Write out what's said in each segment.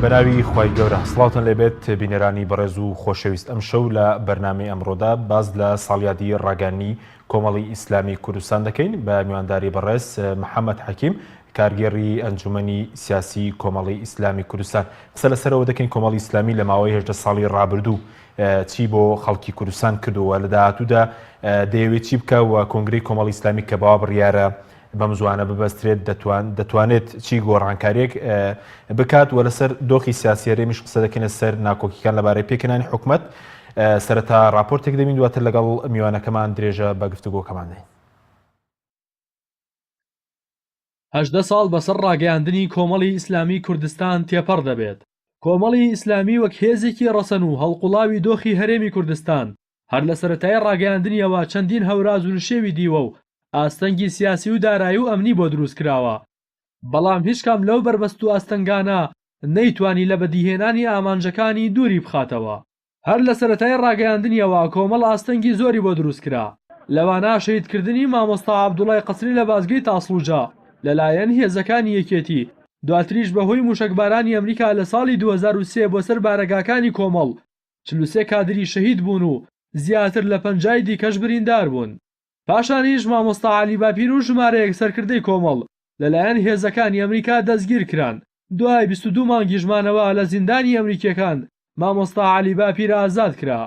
بەناوی خی گەورە سڵاوتن لێبێت بینەرانی بەڕێز و خۆشەویست ئەم شەو لە بەرنامی ئەمڕۆدا باز لە ساڵیادی ڕاگەنی کۆمەڵی ئیسلامی کوردستان دەکەین بە میوانداری بەڕێز محەمەد حەکیم کارگێڕی ئەنجومەنی سیاسی کۆمەڵی ئیسلامی کوردستان قسە لەسەرەوە دەکەین کۆمەڵی ئیسلامی لە ماوەی هێشتە ساڵی ڕابردوو چی بۆ خەڵکی کوردستان کردووە لە داهاتوودا دەیەوێت چی بکە و کۆنگری کۆمەڵی ئیسلامی کە باوە بڕیارە بەم زوانە ببەسترێت دەتوان دەتوانێت چی گۆڕانکاریێک بکات وە لەسەر دۆخی سیاسی رێمیش قسە دەکەنە سەر ناکۆکیەکان لەبارەی پێکەانی حکومت سەرەتا راپۆرتێک دەبین دواتر لەگەڵ میوانەکەمان درێژە بە گفتوگۆکەمان دەین. هەژدە ساڵ بەسەر ڕاگەیاندنی کۆمەڵی ئیسلامی کوردستان تێپەڕ دەبێت کۆمەڵی ئیسلامی وەک هێزێکی ڕەسەن و هەڵقوڵاوی دۆخی هەرێمی کوردستان هەر لە سەرەتای ڕاگەیاندنیەوە چەندین هەوراز و نشێوی دیوە و ئاستەنگی سیاسی و دارایی و ئەمنی بۆ دروست کراوە، بەڵام هیچ کام لەو بەربەست و ئاستەنگانە نەیتوانی لە بەدیهێنانی ئامانجەکانی دووری بخاتەوە. هەر لە سەرەتای ڕاگەیاندنیەوە کۆمەڵ ئاستەنگی زۆری بۆ دروست کرا، لەوانە شەهید کردنی مامۆستا عەبدوڵای قەسری لە بازگەی تاسڵوجە لە لایەن هێزەکانی یەکێتی، دواتریش بە هۆی موشەکبارانی ئەمریکا لە ساڵی دوو هەزار و سێ بۆ سەر بارەگاکانی کۆمەڵ چل و سێ کادری شەهید بوون و زیاتر لە پەنجای دیکەش بریندار بوون. پاشانیش مامۆستا عەلی باپیر و ژمارەیەک سەرکردەی کۆمەڵ لەلایەن هێزەکانی ئەمریکا دەستگیر کران، دوای بیست و دوو مانگیش مانەوە لە زیندانی ئەمریکییەکان مامۆستا عەلی باپیر ئازاد کرا.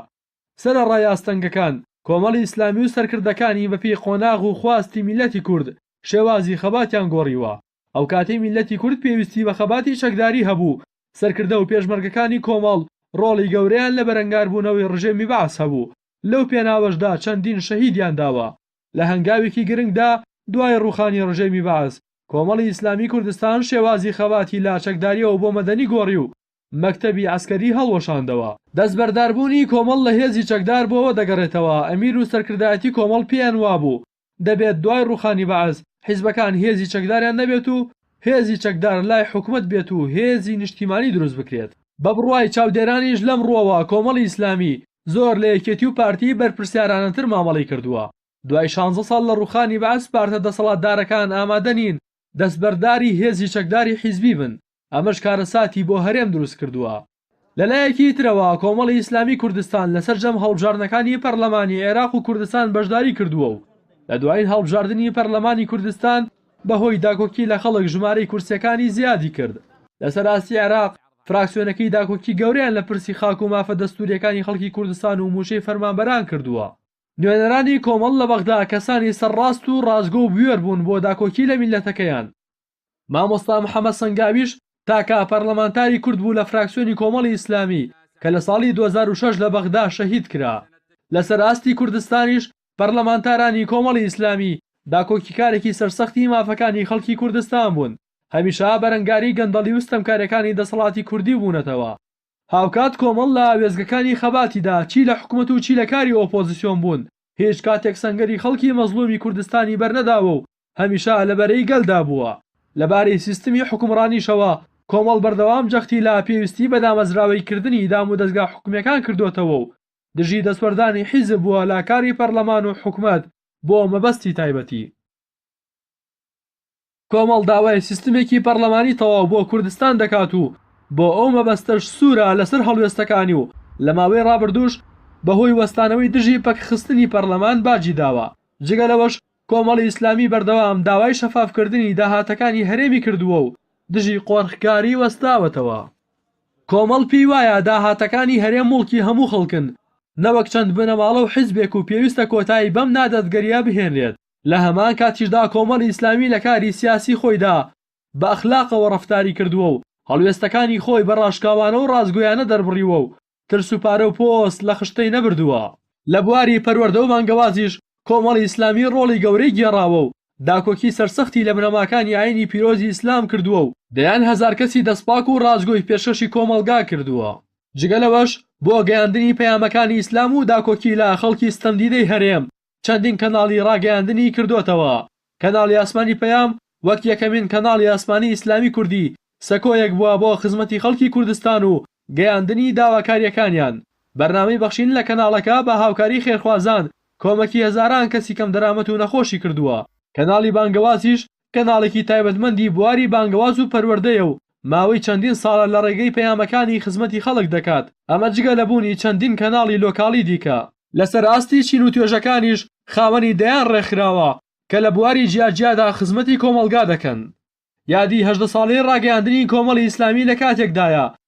سەرەڕای ئاستەنگەکان، کۆمەڵی ئیسلامی و سەرکردەکانی بەپێی قۆناغ و خواستی میللەتی کورد شێوازی خەباتیان گۆڕیوە. ئەوکاتەی میللەتی کورد پێویستی بە خەباتی چەکداری هەبوو، سەرکردە و پێشمەرگەکانی کۆمەڵ ڕۆڵی گەورەیان لە بەرەنگاربوونەوەی ڕژێمی بەعس هەبوو، لەو پێناوەشدا چەندین شەهیدیان داوە. لە هەنگاوێکی گرنگدا دوای ڕووخانی ڕژێمی بەعس، کۆمەڵی ئیسلامی کوردستان شێوازی خەباتی لە چەکدارییەوە بۆ مەدەنی گۆڕی و مەکتەبی عەسکەری هەڵوەشاندەوە. دەستبەرداربوونی کۆمەڵ لە هێزی چەکدار بۆوە دەگەڕێتەوە، ئەمیر و سەرکردایەتی کۆمەڵ پێیان وابوو دەبێت دوای ڕووخانی بەعس حیزبەکان هێزی چەکداریان نەبێت و هێزی چەکدار لای حکومەت بێت و هێزی نیشتیمانی دروست بکرێت. بە بڕوای چاودێرانیش لەم ڕووەوە کۆمەڵی ئیسلامی زۆر لە یەکێتی و پارتی بەرپرسیارانەتر مامەڵەی کردووە. دوای شانزە ساڵ لە ڕووخانی بەعس پارتە دەسەڵاتدارەکان ئامادە نین دەستبەرداری هێزی چەکداری حیزبی بن، ئەمەش کارەساتی بۆ هەرێم دروست کردووە. لەلایەکی ترەوە کۆمەڵی ئیسلامی کوردستان لە سەرجەم هەڵبژاردنەکانی پەرلەمانی عێراق و کوردستان بەشداری کردووە و لە دوایین هەڵبژاردنی پەرلەمانی کوردستان بەهۆی داکۆکی لە خەڵک ژمارەی کورسیەکانی زیادی کرد. لە سەر ئاستی عێراق فراکسیۆنەکەی داکۆکی گەورەیان لە پرسی خاک و مافە دەستوریەکانی خەڵکی کوردستان و موچەی فەرمانبەران کردووە. نوێنەرانی کۆمەڵ لە بەغدا کەسانی سەرڕاست و ڕاستگۆ و بوێر بوون بۆ داکۆکی لە میللەتەکەیان. مامۆستا محەمەد سەنگاویش تاکە پەرلەمانتاری کورد بوو لە فراکسیۆنی کۆمەڵی ئیسلامی کە لە ساڵی دوو هەزار و شەش لە بەغدا شەهید کرا. لەسەر ئاستی کوردستانیش پەرلەمانتارانی کۆمەڵی ئیسلامی داکۆکیکارێکی سەرسەختی مافەکانی خەڵکی کوردستان بوون، هەمیشە بەرەنگاری گەندەڵی و ستەمکارییەکانی دەسەڵاتی کوردی بوونەتەوە. هاوکات کۆمەڵ لە وێستگەکانی خەباتیدا چی لە حکومەت و چی لە کاری ئۆپۆزسیۆن بوون، هیچ کاتێک سەنگەری خەڵکی مەزڵومی کوردستانی بەرنەداوە و هەمیشە لە بەرەی گەلدا بووە. لە بارەی سیستمی حوکمڕانیشەوە، کۆمەڵ بەردەوام جەختی لە پێویستی بە دامەزراوەی کردنی دامودەزگا حکومیەکان کردۆتەوە و دژی دەستوەردانی حیزب بووە لە کاری پەرلەمان و حکومەت بۆ مەبەستی تایبەتی. کۆمەڵ داوای سیستمێکی پەرلەمانی تەواو بۆ کوردستان دەکات و بۆ ئەو مەبەستەش سوورە لەسەر هەڵوێستەکانی و لە ماوەی ڕابردووش بە هۆی وەستانەوەی دژی پەکخستنی پەرلەمان باجی داوە. جگە لەوەش کۆمەڵی ئیسلامی بەردەوام داوای شەفافکردنی داهاتەکانی هەرێمی کردووە و دژی قۆرخکاری وەستاوەتەوە. کۆمەڵ پێی وایە داهاتەکانی هەرێم موڵکی هەموو خەڵکن نەوەک چەند بنەماڵە و حیزبێک و پێویستە کۆتایی بەم نادادگەرییە بهێنرێت، لە هەمان کاتیشدا کۆمەڵی ئیسلامی لە کاری سیاسی خۆیدا بە ئەخلاقەوە ڕەفتاری کردووە و هەڵوێستەکانی خۆی بە ڕاشکاوانە و ڕاستگۆیانە دەربڕیوە و ترس و پارە و پۆست لە خشتەی نەبردووە. لە بواری پەروەردە و بانگەوازیش کۆمەڵی ئیسلامی ڕۆڵی گەورەی گێڕاوە و داکۆکی سەرسەختی لە بنەماکانی ئایینی پیرۆزی ئیسلام کردووە و دەیان هەزار کەسی دەستپاک و ڕاستگۆی پێشکەشی کۆمەڵگا کردووە. جگە لەوەش بۆ گەیاندنی پەیامەکانی ئیسلام و داکۆکی لە خەڵکی ستەمدیدەی هەرێم، چەندین کەناڵی ڕاگەیاندنی کردۆتەوە. کەناڵی ئاسمانی پەیام وەک یەکەمین کەناڵی ئاسمانی ئیسلامی کوردی سەکۆیەک بووە بۆ خزمەتی خەڵکی کوردستان و گەیاندنی داواکارییەکانیان. بەرنامەی بەخشین لە کەناڵەکە بە هاوکاری خێرخوازان کۆمەکی هەزاران کەسی کەمدەرامەت و نەخۆشی کردووە. کەناڵی بانگەوازیش کەناڵێکی تایبەتمەندی بواری بانگەواز و پەروەردەیە و ماوەی چەندین ساڵە لە ڕێگەی پەیامەکانی خزمەتی خەڵک دەکات، ئەمە جگە لە بوونی چەندین کەناڵی لۆکاڵی دیکە. لەسەر ئاستی چین و توێژەکانیش خاوەنی دەیان ڕێکخراوە کە لە بواری جیاجیادا خزمەتی کۆمەڵگا دەکەن. یادی هەژدە ساڵەی ڕاگەیاندنی کۆمەڵی ئیسلامی لە کاتێکدایە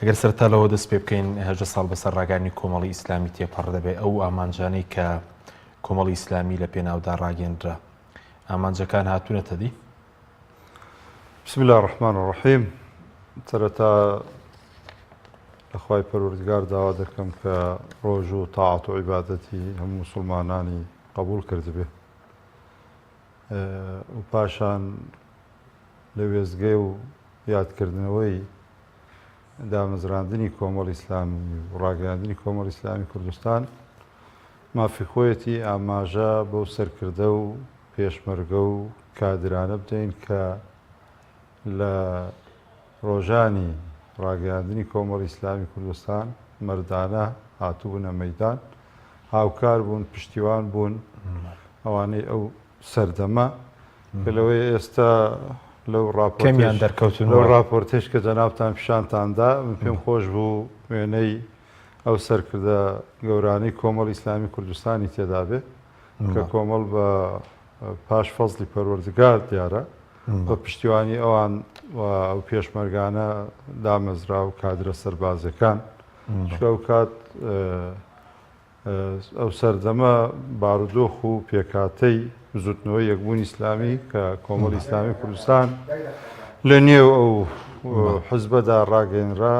ئەگەر سەرەتا لەوە دەست پێ بکەین هەژدە ساڵ بەسەر ڕاگەیاندنی کۆمەڵی ئیسلامی تێپەڕ دەبێت ئەو ئامانجانەی کە کۆمەڵی ئیسلامی لە پێناودا ڕاگەندرا ئامانجەکان هاتوونەتە دی بسم الله الرحمن الرحیم سەرەتا لەخوای پەروەردگار داوا دەکەم کە ڕۆژ و تاعات و عیبادەتی هەموو مسلمانانی قبول کردبێ و پاشان لە وێزگەی و یادکردنەوەی دامەزراندنی کۆمەڵی ئیسلامی و ڕاگەیاندنی کۆمەڵی ئیسلامی کوردستان مافی خۆیەتی ئاماژە بەو سەرکردە و پێشمەرگە و کادرانە بدەین کە لە ڕۆژانی ڕاگەیاندنی کۆمەڵی ئیسلامی کوردستان مردانە هاتوبوونە مەدان هاوکار بوون پشتیوان بوون ئەوانەی ئەو سەردەمە کە لەوەی ئێستا لەو ڕاپۆرتەیش کە جەنابتان پیشانتان دا، من پێم خۆش بوو وێنەی ئەو سەرکردە گەورانەی کۆمەڵی ئیسلامی کوردستانی تێدا بێ کە کۆمەڵ بە پاش فەزڵی پەروەردگار دیارە بە پشتیوانی ئەوان ئەو پێشمەرگانە دامەزرا و کادرە سەربازەکان شکاو کات ئەو سەردەمە بارودۆخ و پێکهاتەی بزوتنەوەی یەکبوونی ئیسلامی کە کۆمەڵی ئیسلامی کوردستان لە نێو ئەو حزبەدا ڕاگەنرا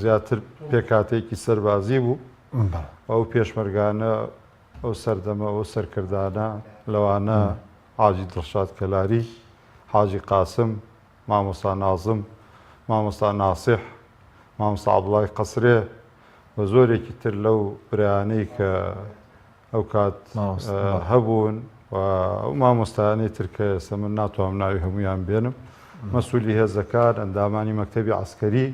زیاتر پێکاتێکی سەربازی بوو ئەو پێشمەرگانە ئەو سەردەمە ئەو سەرکردانە لەوانە حاجی دڵشاد کەلاری حاجی قاسم مامۆستا نازم، مامۆستا ناسیح، مامۆستا عەبدوڵای قەسرێ و زۆرێکی تر لەو برایانەی کە ئەوکات هەبوون و ئەو مامۆستایانەی تر کە ئێستا من ناتوانم ناوی هەمویان بێنم مەسوولی هێزەکان ئەندامانی مەکتەبی عەسکەری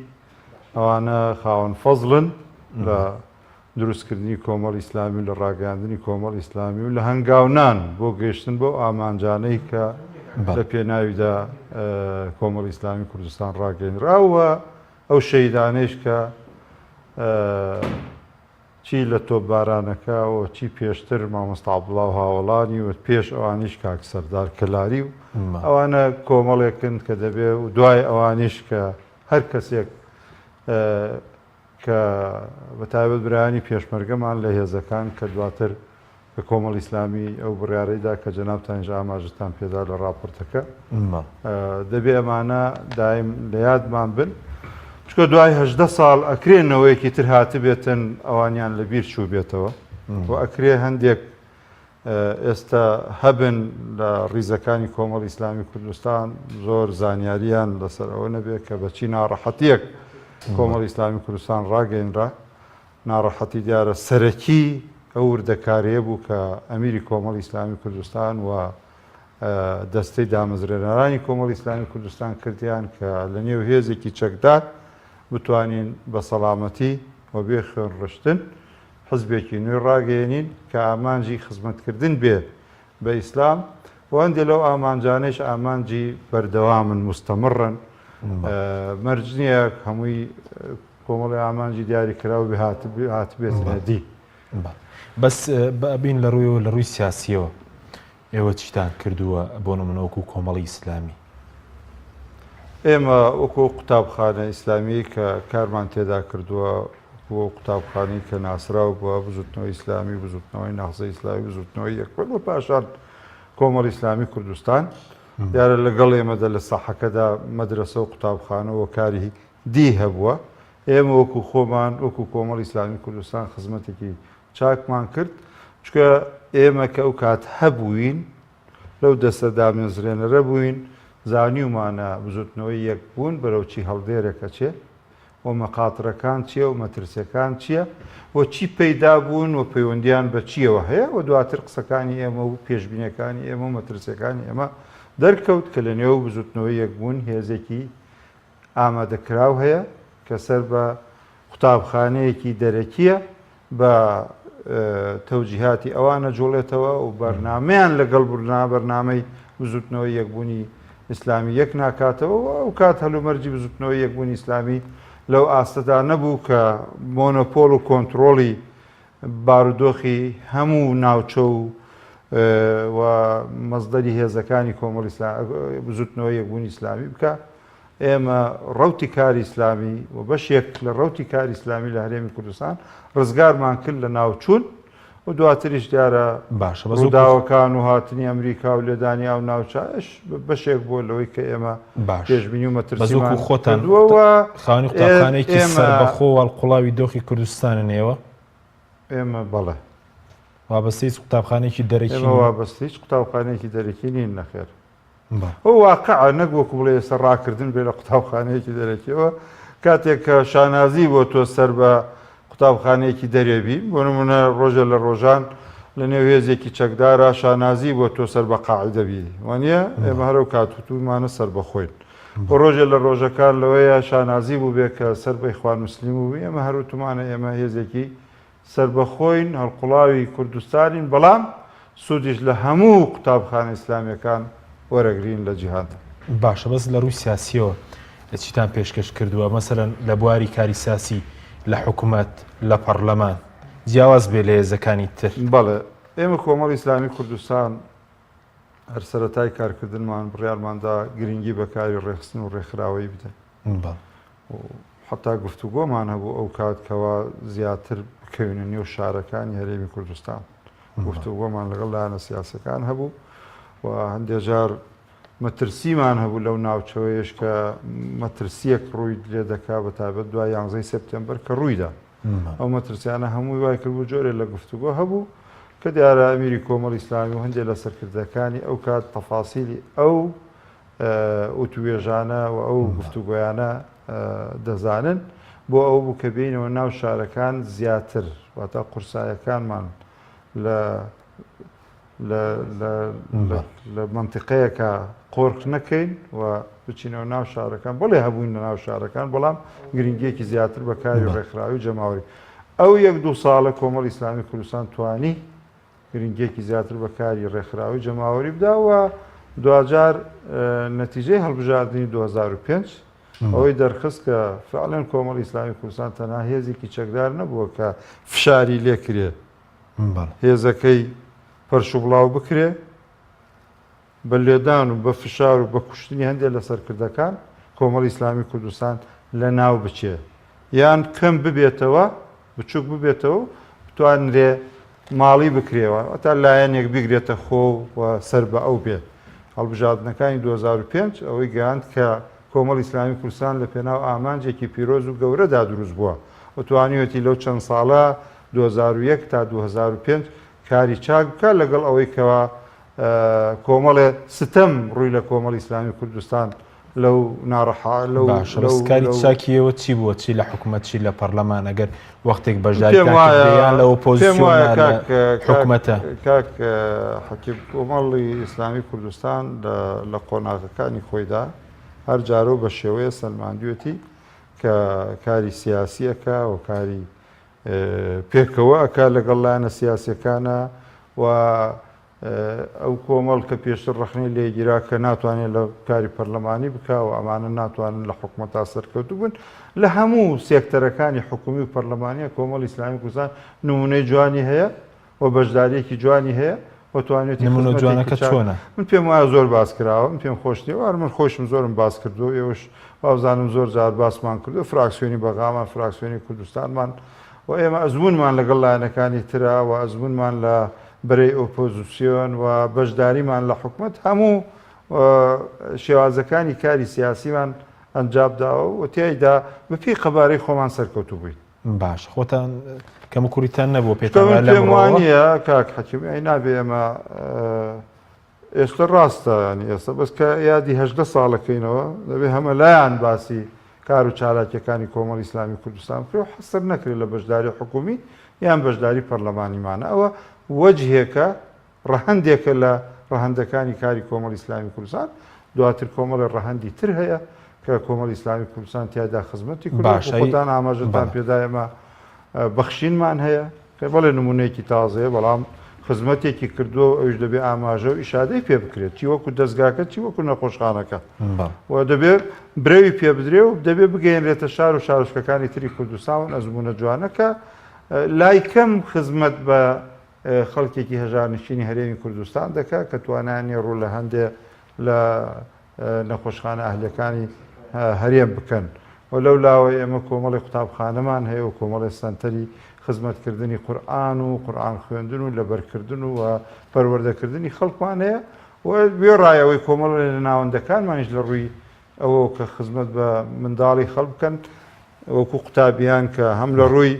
ئەوانە خاوەن فەزڵن لە دروستکردنی کۆمەڵی ئیسلامی و لە ڕاگەیاندنی کۆمەڵی ئیسلامی و لە هەنگاونان بۆ گەیشتن بەو ئامانجانەی کە لە پێناویدا کۆمەڵی ئیسلامی کوردستان ڕاگەیەنرا و ئەو شەهیدانەیش کە چی لە تۆپبارانەکە و چی پێشتر مامۆستا عەبدوڵڵا و هاوەڵانی و پێش ئەوانیش کاک سەردار کەلاری و ئەوانە کۆمەڵێکن کە دەبێ و دوای ئەوانیش کە هەر کەسێک کە بە تایبەت برایانی پێشمەرگەمان لە هێزەکان کە دواتر کە کۆمەڵی ئیسلامی ئەو بڕیارەی دا کە جەنابتانیش ئاماژەتان پێ دا لە ڕاپۆرتەکە، دەبێ ئەمانە دایم لە یادمان بن، چونکە دوای هەژدە ساڵ ئەکرێ نەوەیەکی تر هاتبێتن ئەوانیان لە بیر چووبێتەوە و ئەکرێ هەندێک ئێستا هەبن لە ڕیزەکانی کۆمەڵی ئیسلامی کوردستان زۆر زانیاریان لەسەر ئەوە نەبێت کە بە چی ناڕەحەتیەک کۆمەڵی ئیسلامی کوردستان ڕاگەینرا ناڕەحەتی دیارە سەرەکی ئەو وردەکاریە بوو کە ئەمیری کۆمەڵی ئیسلامی کوردستان و دەستەی دامەزرێنەرانی کۆمەڵی ئیسلامی کوردستان کردیان کە لە نێو هێزێکی چەکدار بتوانین بە سەلامەتی و بێ خوێن ڕشتن حزبێکی نوێ ڕاگەیەنین کە ئامانجی خزمەتکردن بێ بە ئیسلام و هەندێ لەو ئامانجانەیش ئامانجی بەردەوامن مستەمڕن مەرج نییە هەمووی کۆمەڵی ئامانجی دیاری کراو بێ هاتبێت دی بەس بابین لە ڕوویەوە لە ڕووی سیاسیەوە ئێوە چیتان کردووە بۆ نمونە وەکو کۆمەڵی ئیسلامی؟ ئێمە وەکو ئەو قوتابخانە ئیسلامیەی کە کارمان تێدا کردووە وەکو ئەو قوتابخانەی کە ناسراو بە بزوتنەوەی ئیسلامی بزوتنەوەی نەهزەی ئیسلامی بزوتنەوەی یەکپەرد و پاشان کۆمەڵی ئیسلامی کوردستان دیارە لەگەڵ ئێمەدا لە ساحەکەدا مەدرەسە و قوتابخانە و کاری دی هەبووە ئێمە وەکو خۆمان وەکو کۆمەڵی ئیسلامی کوردستان خزمەتێکی چاکمان کرد، چونکە ئێمە کە ئەو کات هەبووین، لەو دەستە دامێزرێنەرە بووین، زانیومانە بزووتنەوەی یەکبوون بەرەو چی هەڵدێرێک ئەچێ و مەخاترەکان چییە و مەترسییەکان چییە و چی پەیدا بوون و پەیوەندییان بە چییەوە هەیە و دواتر قسەکانی ئێمە و پێشبینییەکانی ئێمە و مەترسییەکانی ئێمە دەرکەوت کە لەنێو بزووتنەوەی یەکبوون هێزێکی ئامادەکراو هەیە کە سەر بە قوتابخانەیەکی دەرەکییە بە تەوجیهاتی ئەوان ئەجوڵێتەوە و بەرنمەیان لەگەڵ برنا بەرنمەی بزوتنەوەی یەکبوونی ئیسلامی یەک ناکاتەوە و ئەو کات هەلومەرجی بزوتنەوەی یەکبوونی ئیسلامی لەو ئاستەدا نەبوو کە مۆنۆپۆل و کۆنتترۆڵی بارودۆخی هەموو ناوچە و و مەزدەری هێزەکانی کۆمەڵ بزوتنەوە یەکبوونی ئیسلامی بکە ئێمە ڕوتی کاری ئیسلامی و بەشێک لە ڕوتی کاری ئیسلامی لە هەرێمی کوردستان ڕزگارمان کرد لە ناوچوون و دواتریش دیارە باشە بەزوداوەکان و هاتنی ئەمریکا و لێدانی ئەو ناوچایش بەشێک بووە لەوەی کە ئێمە پێشبینی و مەترسیمان کردووە و خانی قوتابخانەیەکی سەربەخۆ واڵقوڵاوی دۆخی کوردستانن ئێوە ئێمە بەڵێ وابەستە هیچ قوتابخانێکی دەرەکی وابەست هیچ قوتابخانێکی دەرەکی نین نەخێر ئەو واقع نەک وەکو بڵێ ئێستا ڕاکردن بێ لە قوتابخانەیەکی دەرەکیەوە کاتێک کە شانازی بۆ تۆ سەر بە قوتابخانەیەکی دەرێ بی، بۆ نموونە ڕۆژێ لە ڕۆژان لە نێو هێزێکی چەکدارا شانازی بۆ تۆ سەر بە قاعیدە بی، وانییە؟ ئێمە هەرەو کات وتوومانە سەربەخۆین. و ڕۆژێ لە ڕۆژەکان لەوەیە شانازی بووبێ کە سەر بە ئیخوان موسلیم بووبی، ئێمە هەر وتوومانە ئێمە هێزێکی سەربەخۆین، هەڵقوڵاوی کوردستانین، بەڵام سودیش لە هەموو قوتابخانە ئیسلامیەکان وەرەگرین لە جیهاندا. باشە بەس لە ڕووی سیاسیەوە چیتان پێشکەش کردووە مەسەلەن لە بواری کاری سیاسی لە حکومەت لە پەڕلەمان جیاواز بێ لە هێزەکانی تر؟ بەڵێ ئێمە کۆمەڵی ئیسلامی کوردستان هەر سەرەتای کارکردنمان بڕیارماندا گرنگی بە کاری ڕێخستن و ڕێکخراوەیی بدەین و حەتا گفتوگۆمان هەبوو ئەو کات کەوا زیاتر بکەوینە نێو شارەکانی هەرێمی کوردستان گفتوگۆمان لەگەڵ لایەنە سیاسەکان هەبوو و هەندێک جار مەترسیمان هەبوو لەو ناوچەوەیش کە مەترسیەک ڕووی لێ دەکا بە تابەت دوای یانزەی سپتمبەر کە ڕوویدا ئەو مەترسیانە هەمووی وای کردبوو جۆرێ لە گفتوگۆ هەبوو کە دیارە ئەمیری کۆمەڵ ئیسلامی و هەندێک لە سەرکردەکانی ئەو کات تەفاسیلی ئەو وتووێژانە و ئەو گفتوگۆیانە دەزانن، بۆ ئەوە بوو کە بێینەوە ناو شارەکان زیاتر، واتە قورسایەکانمان لە لە مەنتیقەیەکە قۆرخ نەکەین و بچینەوە ناو شارەکان، بەڵێ هەبووین لە ناو شارەکان، بەڵام گرنگییەکی زیاتر بە کاری ڕێکخراوی جەماوەری. ئەو یەک دوو ساڵە کۆمەڵی ئیسلامی کوردستان توانی، گرنگییەکی زیاتر بە کاری ڕێکخراوەی جەماوەری بدا و دواجار نەتیجەی هەڵبژاردنی دوو هەزار و پێنج ئەوەی دەرخست کە فعلەن کۆمەڵی ئیسلامی کوردستان تەنها هێزێکی چەکدار نەبووە کە فشاری لێ کرێ هێزەکەی پەرش و بڵاو بکرێ، بە لێدان و بە فشار و بە کوشتنی هەندێ لە سەرکردەکان کۆمەڵی ئیسلامی کوردستان لە ناو بچێ یان کەم ببێتەوە بچوک ببێتەوە و بتوانرێ ماڵی بکرێەوە ئەتا لایەنێک بیگرێتە خۆ و سەر بە ئەو بێت هەڵبژاردنەکانی 2005 ئەوەی گەیاند کە کۆمەڵ ئیسلامی کوردستان لە پێناو ئامانجێکی پیرۆز و گەورەدا دروست بووە و توانیوەتی لەو چەند ساڵە 2001 تا 2005 کاری چاک بکە لەگەڵ ئەوەی کەوا کۆمەڵێ ستەم ڕووی لە کۆمەڵی ئیسلامی کوردستان لەو ناڕەحا لەو باشە لەو بەسکاری لەو- چاکیەوە چی بووە چی لە حکومەت چی لە پەرلەمان ئەگەر وەختێک پێم بەشداریتان وایە- کردیان لە پێم ئۆپۆزیسیۆن وایە یا لە کاک- کاک- حکومەتە کاک اه، حەکیم کۆمەڵی ئیسلامی کوردستان لە- لە قۆناغەکانی خۆیدا هەر جارەو بە شێوەیە سەلماندوێتی کە کاری سیاسیەکە و کاری پێکەوە ئەکات لەگەڵ لایەنە سیاسیەکانا و ئەو کۆمەڵ کە پێشتر ڕەخنەی لێگیرا کە ناتوانێت لە کاری پەرلەمانی بکاوە ئەمانە ناتوانن لە حکومە تا سەرکەوتو بن لە هەموو سێکتەرەکانی حکومی و پەرلەمانیە کۆمەڵ ئیسلامی کوردستان نمونەی جوانی هەیە و بەشداریەکی جوانی هەیە و توانێتی نمونە جوانەکە چۆنە من پێم وایە زۆر باس کراوە من پێم خۆش نیە وار من خۆشم زۆرم باس کردو ئێوەش وابزانم زۆر جار باسمان کردو فراکسیۆنی بەغامان فراکسیۆنی کوردستانمان و ئێمە ئەزمونمان لەگەڵ لایەنەکانی ترا و ئەزمونمان لە بەرەی ئۆپۆزیسیۆن و بەشداریمان لە حکومت هەموو شێوازەکانی کاری سیاسیمان ئەنجابداوە و تیایدا بەپی قەبارەی خۆمان سەرکەوتو بووین باش خۆتان کەم کوریتان نەبوو پێ وانە کاک حەکیمی ئەی نابێ ئەمە ئێستا ڕاستە ینی ئێستا بەس کە یادی هەدە ساڵەکەینەوە دەبێ هەمە لایەن باسی کار و چالاکیەکانی کۆمەڵ ئیسلامی کوردستان بکرێ و حەسەر نەکرێت لە بەشداری حکومی یان بەشداری پەرلەمانیمانە ئەوە وەجهێکە ڕەهەندێکە لە ڕەهەندەکانی کاری کۆمەڵی ئیسلامی کوردستان، دواتر کۆمەڵێ ڕەهەندی تر هەیە کە کۆمەڵی ئیسلامی کوردستان تیایدا خزمەتی کورد دەکات، باشە خۆتان ئاماژەتان بەڵێ. پێدا ئێمە بەخشینمان هەیە، پێ بەڵێ نموونەیەکی تازەیە بەڵام خزمەتێکی کردووە و ئەویش دەبێ ئاماژە و ئیشادەی پێ بکرێت چی وەکوو دەزگاکە چی وەکوو نەخۆشخانەکە بەڵێ. و دەبێ برەوی پێ بدرێ و دەبێ بگەیەنرێتە شار و شارۆچکەکانی تری کوردستان و ئەزموونە جوانەکە لای کەم خزمەت بە خەڵکێکی هەژار نشینی هەرێمی کوردستان دەکات کە توانایان نییە ڕوو لە هەندێ لە نەخۆشخانە ئەهلییەکانی هەرێم بکەن و لەو لاوە ئێمە کۆمەڵی قوتابخانەمان هەیە و کۆمەڵی سەنتەری خزمەتکردنی قورئان و قورئان خوێندن و لەبەرکردن و پەروەردەکردنی خەڵکمان هەیە و وێڕای ئەوەی کۆمەڵێ لە ناوەندەکانمانیش لە ڕووی ئەوە کە خزمەت بە منداڵی خەڵک بکەن وەکو قوتابیان کە هەم لە ڕووی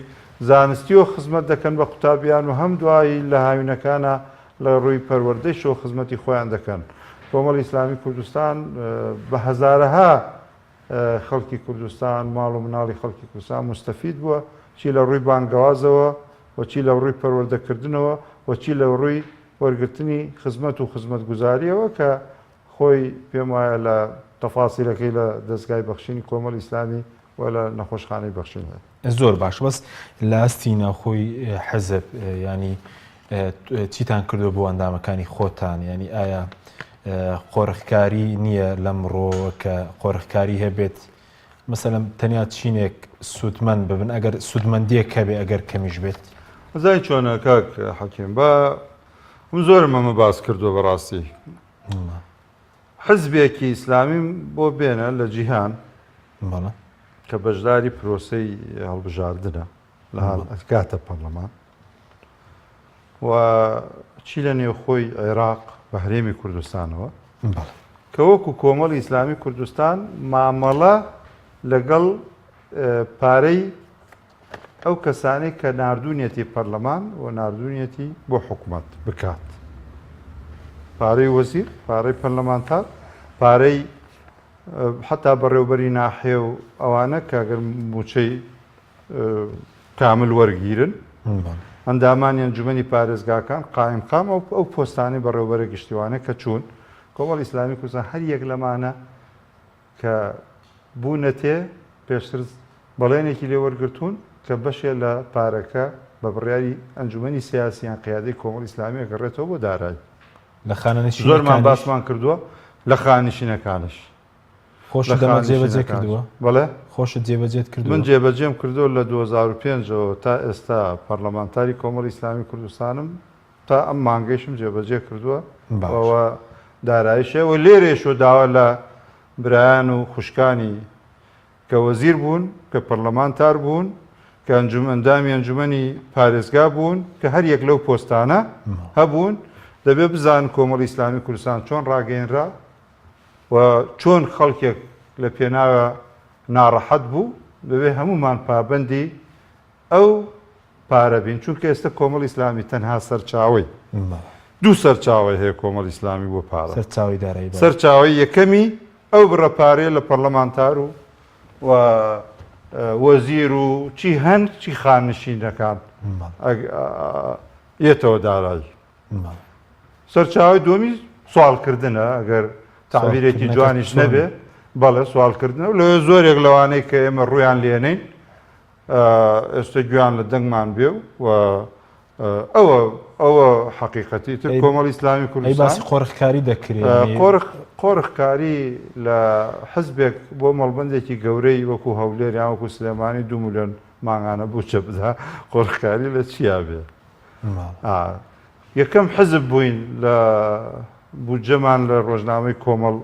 زانستیەوە خزمەت دەکەن بە قوتابیان و هەم دوایی لە هاوینەکانە لە ڕووی پەروەردەیشەوە خزمەتی خۆیان دەکەن کۆمەڵی ئیسلامی کوردستان بە هەزارەها خەڵکی کوردستان ماڵ و مناڵی خەڵکی کوردستان مستەفید بووە چی لە ڕووی بانگەوازەوە و چی لە ڕووی پەروەردەکردنەوە و چی لە ڕووی وەرگرتنی خزمەت و خزمەتگوزاریەوە کە خۆی پێم وایە لە تەفاسیلەکەی لە دەزگای بەخشینی کۆمەڵی ئیسلامی و لە نەخۆشخانەی بەخشین هەیە. زۆر باشە بەس لە ئاستی ناوخۆی حزب یانی چیتان کردوە بۆ ئەندامەکانی خۆتان یانی ئایا قۆرخکاری نییە لەم ڕۆ کە قۆرخکاری هەبێت مثلم تەنیا چینێک سوودمەند ببن ئەگەر سوودمەندیەک هەبێ ئەگەر کەمیش بێت زای چۆنە کاک حەکیم بە من زۆرم ئەمە باس کردووە بەڕاستی حزبێکی ئیسلامیم بۆ بێنە لە جیهان کە بەشداری پرۆسی هەڵبژاردنە لە ئەکاتە پەرلەمان و چی لە نێوخۆی عێراق بە هەرێمی کوردستانەوە کە وەکو کۆمەڵی ئیسلامی کوردستان مامەڵە لەگەڵ پارەی ئەو کەسانەی کە ناردونیەتی پەرلەمان و ناردونیەتی بۆ حکومەت بکات پارەی وەزیر پارەی پەرلەمانتار پارەی حتا بەڕێوبەری ناحێ و ئەوانە کاگەر موچەی کامل وەرگیرن ئەندامانی ئەنجومی پارێزگاکان قایم قام ئەو ئەو پۆستانی بەڕێوبەرە گشتیوانە کە چوون کۆمەڵ ئیسلامی کوردستان هەر یەک لەمانە کە بوونەتێ پێشتر بەڵێنێکی لێ وەرگرتوون کە بەشێ لە پارەکە بە بڕیاری ئەنجومەنی سیاسی یان قیادەی کۆمەڵی ئیسلامی ئەگەڕێتەوە بۆ دارایی لە خانەنشینەکانیش زۆرمان باسمان کردووە لە خانشینەکانش خۆش دەمە جێبەجێ کردووە بەڵێ خۆشت جێبەجێت کرد من جێبەجێم کردو لە 2005ەوە تا ئێستا پەرلەمانتاری کۆمەڵی ئیسلامی کوردستانم تا ئەم مانگەیشم جێبەجێ کردووە و دارایشە و لێرێش و داوا لە برایان و خوشکانی کە وەزیر بوون کە پەرلەمانتار بوون کە ئەنجوم ئەندامی ئەنجومنی پارێزگا بوون کە هەر یەک لەو پۆستانە هەبوون دەبێ بزان کۆمەڵی ئسلامی کوردستان چۆن ڕاگەینرا و چۆن خەڵکێک لە پێناوە ناڕەحەت بوو دەبێ هەمومان پابندی ئەو پارە بین چونکە ئێستا کۆمەڵی ئیسلامی تەنها سەرچاوەی دوو سەرچاوەی هەیە کۆمەڵی ئیسلامی بۆ پارە سەرچاوەی دارایی بەڵێ سەرچاوەی یەکەمی ئەو بڕە پارەیە لە پەرلەمانتار و و وەزیر و چی هەن چی خاننشینەکان یەتەوە دارایی سەرچاوی دومی سوالکردنە ئەگەر تعبیرێکی جوانیش نەبێ بەڵێ سوالکردنە لە زۆرێک لەوانەی کە ئێمە ڕویان لێنین ئێستە گوێیان لە دەنگمان بێ و ئەوە ئەوە حەقیقەتی تر کۆمەڵی ئیسلامی کوردستان باسی قۆرخکاری دەکرێت ئەی قۆرخ قۆرخکاری لە حزبێک بۆ مەڵبەندێکی گەورەی وەکو هەولێر یان وەکو سلێمانی دوو ملیۆن مانگانە بوچە بدا قۆرخکاری لە چیا بێ یەکەم حزب بووین لە بودجەمان لە ڕۆژنامەی کۆمەڵ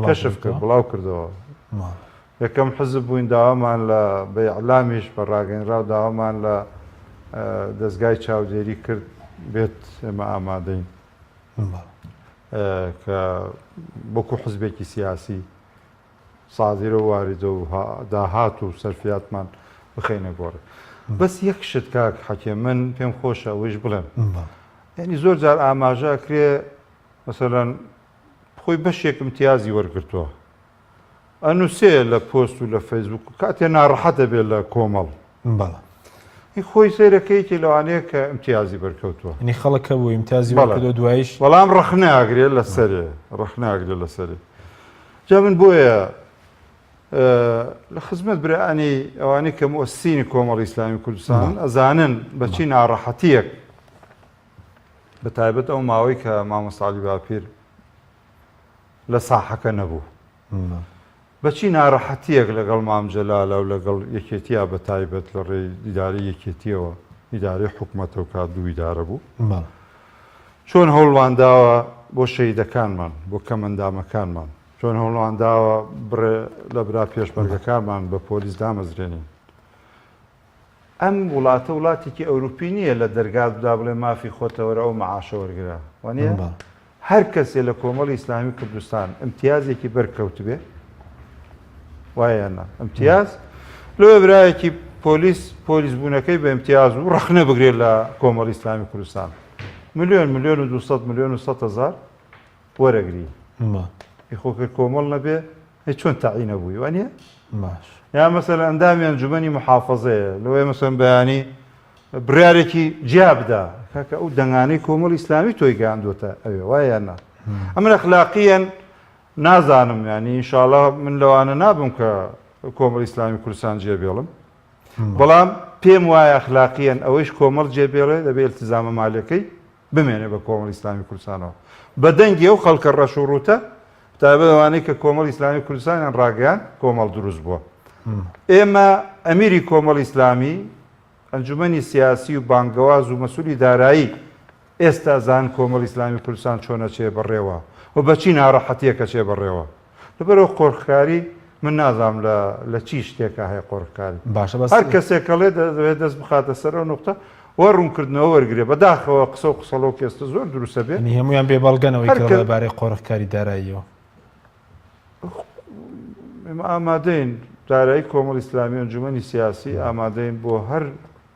کەشف کرد بڵاو کردەوە یەکەم حزب بووین داوامان لە بە ئیعلامیش بە ڕاگەنراو داوامان لە دەزگای چاودێری کرد بێت ئێمە ئامادەین کە بۆکو حزبێکی سیاسی سازیرە واریدە و داهات و سەرفاتمان بخینە گۆڕێ بەس یەک شت کاک حەکێ من پێم خۆشە ئەوەیش بڵێم ینی زۆر جار ئاماژە کرێ مەسەرەن خۆی بەشێک امتیازی وەرگرتوە ئەنوسێ لە پۆست و لە فەیسبوک و کاتێ ناڕەحەتە بێ لە کۆمەڵ بەڵە هی خۆی سەیرەکەیکی لەوانەیە کە امتیازی بەرکەوتووە نی خەڵکە بۆ امتیازی بەڵێ دوایش بەڵام ڕخناگرێ لەسەرێ ڕخناگرێ لەسەری جا من بۆیە لە خزمەت برانی ئەوانەی کە مۆسینی کۆمەڵی ئیسلامی کوردستان ئەزانن بەچی ناڕەحەتیەک بە تایبەت ئەو ماوەی کە مامۆستا عەلی باپیر لە ساحەکە نەبوو بەچی نارەحەتیەک لەگەڵ مام جەلالە و لەگەڵ یەکێتیا بە تایبەت لە ڕێی دیداری یەکێتیەوە ئیدارەی حکوومەتە و کات دوو ئیدارە بوو چۆن هەوڵوان داوە بۆ شەیدەکانمان بۆ کەمەندامەکانمان چۆن هەوڵوان داوە بڕێ لە برا پێشمەرگەکانمان بە پۆلیس دامەزرێنین ئەم وڵاتە وڵاتێکی ئەوروپی نیە لە دەرگات دا بڵێ مافی خۆتە وەرە ئەو مەعاشە وەرگرە وانیە؟ هەر کەسێ لە کۆمەڵی ئیسلامی کوردستان ئیمتیازێکی بەر کەوتبێ وایە یان نا ئیمتیاز لۆیە برایەکی پۆلیس پۆلیس بوونەکەی بە ئیمتیاز و ڕەخنە بگرێت لە کۆمەڵی ئیسلامی کوردستان ملیۆن ملیۆن و 200 ملیۆن و 100 هزار وەرەگری ما. ئیخۆکە کۆمەڵ نەبێ ئەی چۆن تەعین نەبووی وا نییە؟ باش. یان مەسەلەن ئەندامی ئەنجوومەنی موحافەزەیە، لەوەیە مەسەلەن بەیانی بڕیارێکی جیا بدا، کاکە ئەو دەنگانەی کۆمەڵی ئیسلامی تۆی گەیاندووەتە ئەوێ، وایە یان نا؟ ئەمن ئەخلاقییەن نازانم، یانی ئینشاڵا من لەوانە نابم کە کۆمەڵی ئیسلامی کوردستان جێبێڵم، بەڵام پێم وایە ئەخلاقییەن ئەوەیش کۆمەڵ جێبێڵێ دەبێ ئیلتیزامە مالییەکەی بمێنێ بە کۆمەڵی ئیسلامی کوردستانەوە بە دەنگی ئەو خەڵکە ڕەش و ڕووتە بەتایبەت ئەوانەی کە کۆمەڵی ئیسلامی کوردستانیان ڕاگەیاند کۆمەڵ دروست بووە ئێمە ئەمیری کۆمەڵی ئیسلامی ئەنجومەنی سیاسی و بانگەواز و مەسوولی دارایی ئێستا زان کۆمەڵی ئیسلامی کوردستان چۆنە چێ بەڕێوە و بەچی ناڕەحەتیەکە چێ بەڕێوە لەبەرئەوە قۆرخکاری من نازانم لە چی شتێکا هەیە قۆرخکاری باشە بەس هەر کەسێک کەڵێ دەوێت دەست بخاتە سەر ئەو نقطە وە ڕوونکردنەوە وەرگێ بەداخەوە قسە و قسەڵۆ کێستە زۆر دروستە بێت هەمویان بێ بەڵگەنەوەی بارەی قۆرخکاری داراییەوە ئامادەین دارایی کۆمەڵ ئیسلامی ئەنجومی سیاسی ئامادەین بۆ هەر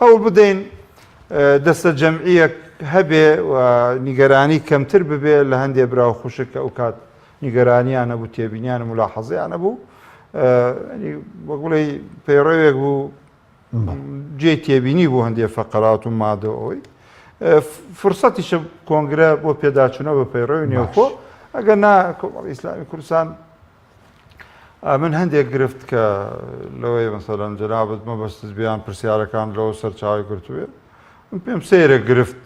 هەوڵ بدەین دەستەجەمعییەک هەبێ و نیگەرانی کەمتر ببێ لە هەندێ برا و خوشک کە ئەوکات نیگەرانییان هەبوو، تێبینیان و مولاحەزەیان هەبوو. وەک بڵێی پەیڕەوێک بوو جێی تێبینی بوو هەندێ فەقەرات و مادە و ئەوەی. فرسەتیشە کۆنگرە بۆ پێداچوونەوە بە پەیڕەوی نێوخۆ، ئەگەر نا کۆمەڵی ئیسلامی کوردستان من هەندێک گرفت کە لەوەی مەسەلەن جەنابت مەبەستت بیان پرسیارەکان لەوە سەرچاوی گرتوێ من پێم سەیرە گرفت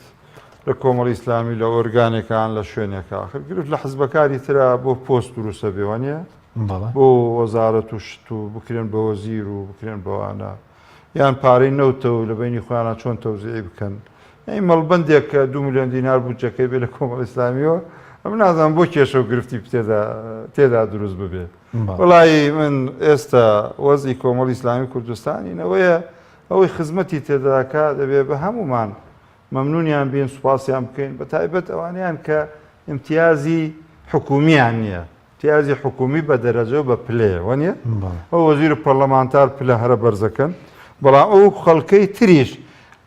لە کۆمەڵی ئیسلامی لە ئۆرگانەکان لە شوێنێکە خر گرفت لە حزبەکانی تررا بۆ پۆست دروستە بێوانە بۆ وەزارەت و شت و بکرێن بە وەزیر و بکرێن بەوانە یان پارەی نەوتە و لە بەینی خۆیانا چۆن تەوزیعی بکەن؟ یانی مەڵبەندێک کە دوو ملیۆن دینار بودجەکەی بێ لە کۆمەڵی ئیسلامیەوە، ئەمن نازانم بۆ کێشە و گرفتی پتێدا تێدا دروست ببێ؟ بەڵێ. وەڵایی من ئێستا وەزعی کۆمەڵی ئیسلامی کوردستانی نەوەیە ئەوەی خزمەتی تێدا دەکا دەبێ بە هەموومان مەمنونیان بین، سوپاسیان بکەین، بە تایبەت ئەوانەیان کە ئیمتیازی حکوومییان نییە. پیازی حکومی بە دەرەجەو بە پلەیە وەنیە؟ ئەو وەزیر و پەرلەمانتار پلە هەرە بەرزەکەن، بەڵام ئەو خەڵکەی تریش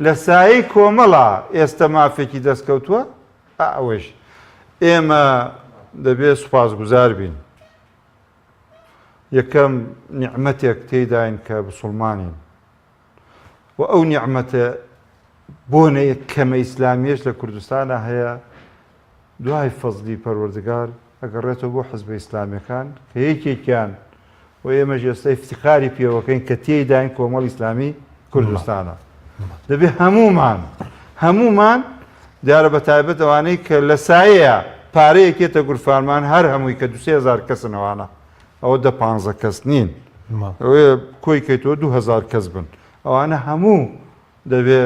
لە سایەی کۆمەڵا ئێستە مافێکی دەستکەوتوە، ئا ئەوەیش ئێمە دەبێ سوپاس گوزار بین. یەکەم نیعمەتێک تێیداین کە بسوڵمانین. و ئەو نیعمەتە بۆنە کەمە ئیسلامیەش لە کوردستانا هەیە دوای فەزلی پەروەردگار ئەگەڕێتەوە بۆ حزبە ئیسلامیەکان کە یەکێکیان و ئێمەش ئێستا افتخاری پێوەکەین کە تێداین کۆمەڵ ئیسلامی کوردستانە دەبێ هەمومان هەمومان دیارە بە تایبەت ئەوانەی کە لە سایەیە پارەیەکێتە گورفانمان هەر هەمووی کە دوهزار کەسنەوانە ئەوە دە پانزە کەس نین ئەوێ کۆی کەیتەوە دو هزار کەس بن ئەوانە هەموو دەبێ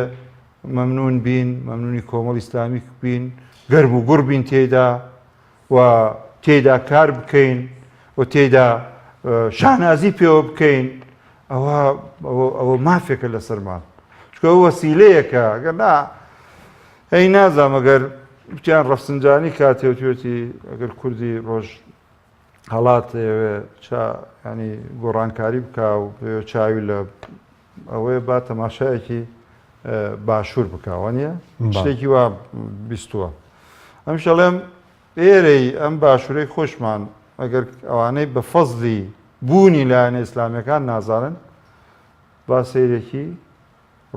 مەمنون بین مەمنونی کۆمەڵ ئیسلامیک بین گەرم و گوڕ بین تێدا و تێدا کار بکەین و تێدا شانازی پێوە بکەین ئەوە ئەوە مافێکە لە سەرمان چکە وەسیلەیەکە گەر نا ئەی نازامەگەر بتیان ڕەفسنجانی کاتێوتێتی ئەگەر کوردی ڕۆژ هەڵات ئەیەوێ چا ینی گۆڕانکاری بکا و بێ چاوی لە ئەوەیە با تەماشایەکی باشوور بکەوە نیە شتێکی وا بیستووە ئەم شەڵێم ئێرەی ئەم باشوورەی خۆشمان ئەگەر ئەوانەی بە فەزلی بوونی لایەنە ئیسلامیەکان نازانن با سیرێکی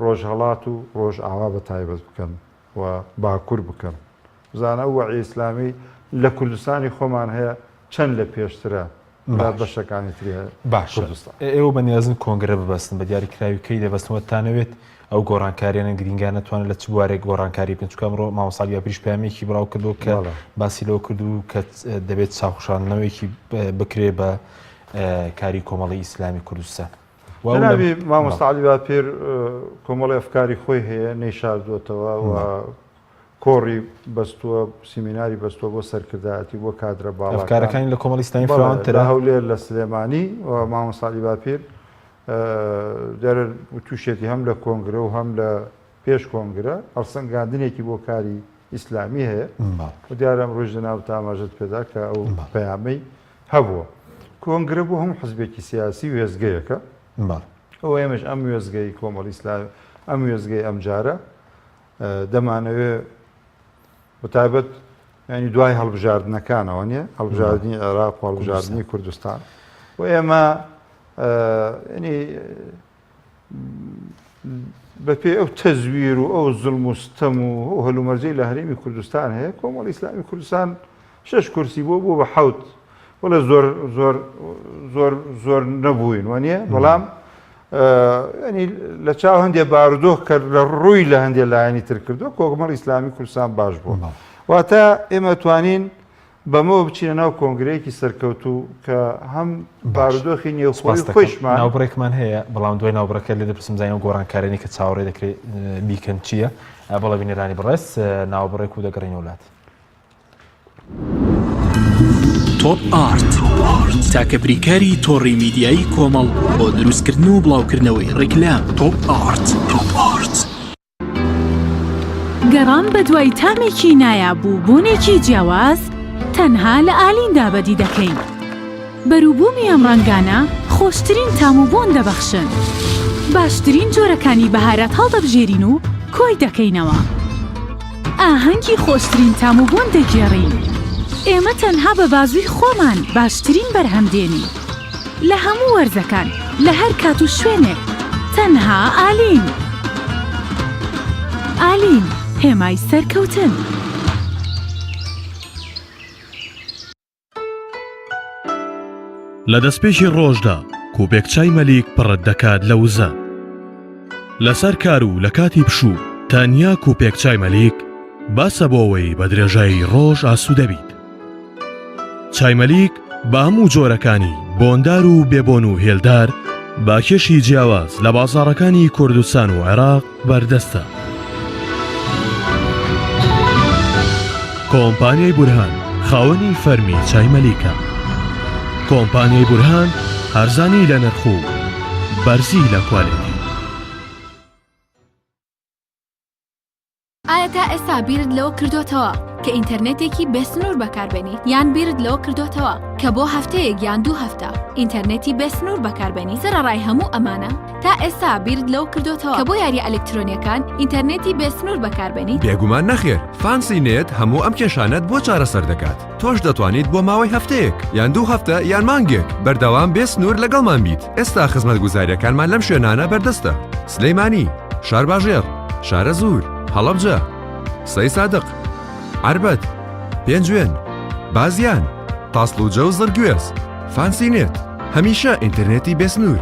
ڕۆژهەڵات و ڕۆژئاوا بە تایبەت بکەن و باکور بکەن بزانە ئەو وەعیە ئیسلامی لە کوردستانی خۆمان هەیە چەند لە پێشترە لە بەشەکانی تری هەیە باش ئێوە بە نیازن کۆنگرە ببەستن بە دیاری کراوی کەی دەبەستنەوە تانەوێت ئەو گۆڕانکاریانە گرینگان نتوانن لە چ بوارێک گۆڕانکاری بن چکە ئەمڕۆ ماوەساڵ یا پریش پامێکی بڵاو کردو کە باسی لەوە کردو کە دەبێت چاخشاندنەوەیکی بکرێ بە کاری کۆمەڵی ئیسلامی کوردستان جەنابی مامۆستا عەلی باپیر کۆمەڵی ئەفکاری خۆی هەیە نەیشاردووەتەوە و کۆڕی بەستووە سیمیناری بەستووە بۆ سەرکردایەتی بۆ کادرە باڵاکان ئەفکارەکانی لە کۆمەڵی ئیسلامی بەڵێ، فراوانترە لە هەولێر لە سلێمانی و مامۆستا عەلی باپیر دیارە تووشێتی هەم لە کۆنگرە و هەم لە پێش کۆنگرە هەڵسەنگاندنێکی بۆ کاری ئیسلامی هەیە بەڵێ و دیارە ئەمڕۆیش جەنابت ئاماژەت پێدا کە ئەو بەڵێ. پەیامەی هەبووە. کۆنگرە بۆ هەموو حزبێکی سیاسی وێستگەیەکە. ئەوە ئێمەش ئەم وێستگەی کۆمەڵی ئیسلامی، ئەم وێستگەی ئەمجارە دەمانەوێ بەتایبەت ینی دوای هەڵبژاردنەکانەوە نیە، هەڵبژاردنی عێراق و هەڵبژاردنی کوردستان و ئێمە بەپێی ئەو تەزویر و ئەو زوڵم و ستەم و ئەو هەلومەرجەی لە هەرێمی کوردستان هەیە کۆمەڵی ئیسلامی کوردستان شش کورسی بۆ بۆ بە حەوت وڵە زۆر زۆر زۆر زۆر نەبووین وانە بەڵام ینی لە چاو هەندێک بارودۆخ کە لە ڕووی لە هەندێک لایەنی تر کردو کۆکمەڵ ئیسلامی کوردستان باش بوو واتە ئێمە توانین بەمەوە بچینە ناو کۆنگرەیەکی سەرکەوتوو کە هەم بارودۆخی نێوخۆی خۆیشمان ناوبڕێکمان هەیە بەڵام دوای ناوبڕەکە لێ دەپرسم زانانی و گۆڕانکارێنی کە چاوەڕێ دەکرێت بیکەن چییە بەڵە بینەرانی بڕێز ناوبڕێک و دەگەڕین وڵات. تۆپ ئارت تاکە بریکاری تۆڕی میدیایی کۆمەڵ بۆ دروستکردن و بڵاوکردنەوەی ڕیکلام تۆپ ئارت تۆپ ئارت. گەڕان بەدوای تامێکی نایاب و بۆنێکی جیاواز تەنها لە ئالیندا بەدی دەکەین. بەروبوومی ئەم ڕەنگانە خۆشترین تام و بۆن دەبەخشن. باشترین جۆرەکانی بەهارات هەڵدەبژێرین و کۆی دەکەینەوە. ئاهەنگی خۆشترین تام و بۆن دەگێڕین. ئێمە تەنها بە بازووی خۆمان باشترین بەرهەم دێنین. لە هەموو وەرزەکان لە هەر کات و شوێنێک تەنها ئالین. ئالین، هێمای سەرکەوتن. لە دەستپێکی ڕۆژدا کوپێک چای مەلیک پڕت دەکات لە وزە لەسەر کار و لە کاتی پشوو تەنیا کوپێک چای مەلیک باسە بۆەوەی بە درێژایی ڕۆژ ئاسوودەبیت چایمەلیک بە هەموو جۆرەکانی بۆندار و بێبۆن و هێلدار با کێشی جیاواز لە بازاڕەکانی کوردستان و عێراق بەردەستە. کۆمپانیای بورهان خاوەنی فەرمی چایمەلیکە. کۆمپانیای بورهان هەرزانی لە نرخ و بەرزی لە کوالێتی. ئایا تا ئێستا بیرت لەوە کردۆتەوە کە ئینتەرنێتێکی بێ سنوور بەکاربێنی یان بیرت لەوە کردۆتەوە کە بۆ هەفتەیەک یان دوو هەفتە ئینتەرنێتی بێ سنوور بەکاربێنی سەرەڕای هەموو ئەمانە تا ئێستا بیرت لەوە کردۆتەوە کە بۆ یاریە ئەلکترۆنیەکان ئینتەرنێتی بێ سنوور بەکاربێنی؟ بێگومان نەخێر، فانسی نێت هەموو ئەم کێشانەت بۆ چارەسەر دەکات. تۆش دەتوانیت بۆ ماوەی هەفتەیەک یان دوو هەفتە یان مانگێک بەردەوام بێ سنوور لەگەڵمان بیت ئێستا خزمەت گوزاریەکانمان لەم شوێنانە بەردەستە سلەیمانی شارباژێر شارە زور هەڵەبجە سەی سادق عربەت پێنجوێن بازیان تاسلوجە و زڕگوێز فانسینێت هەمیشە ئینتەرنێتی بێسنوور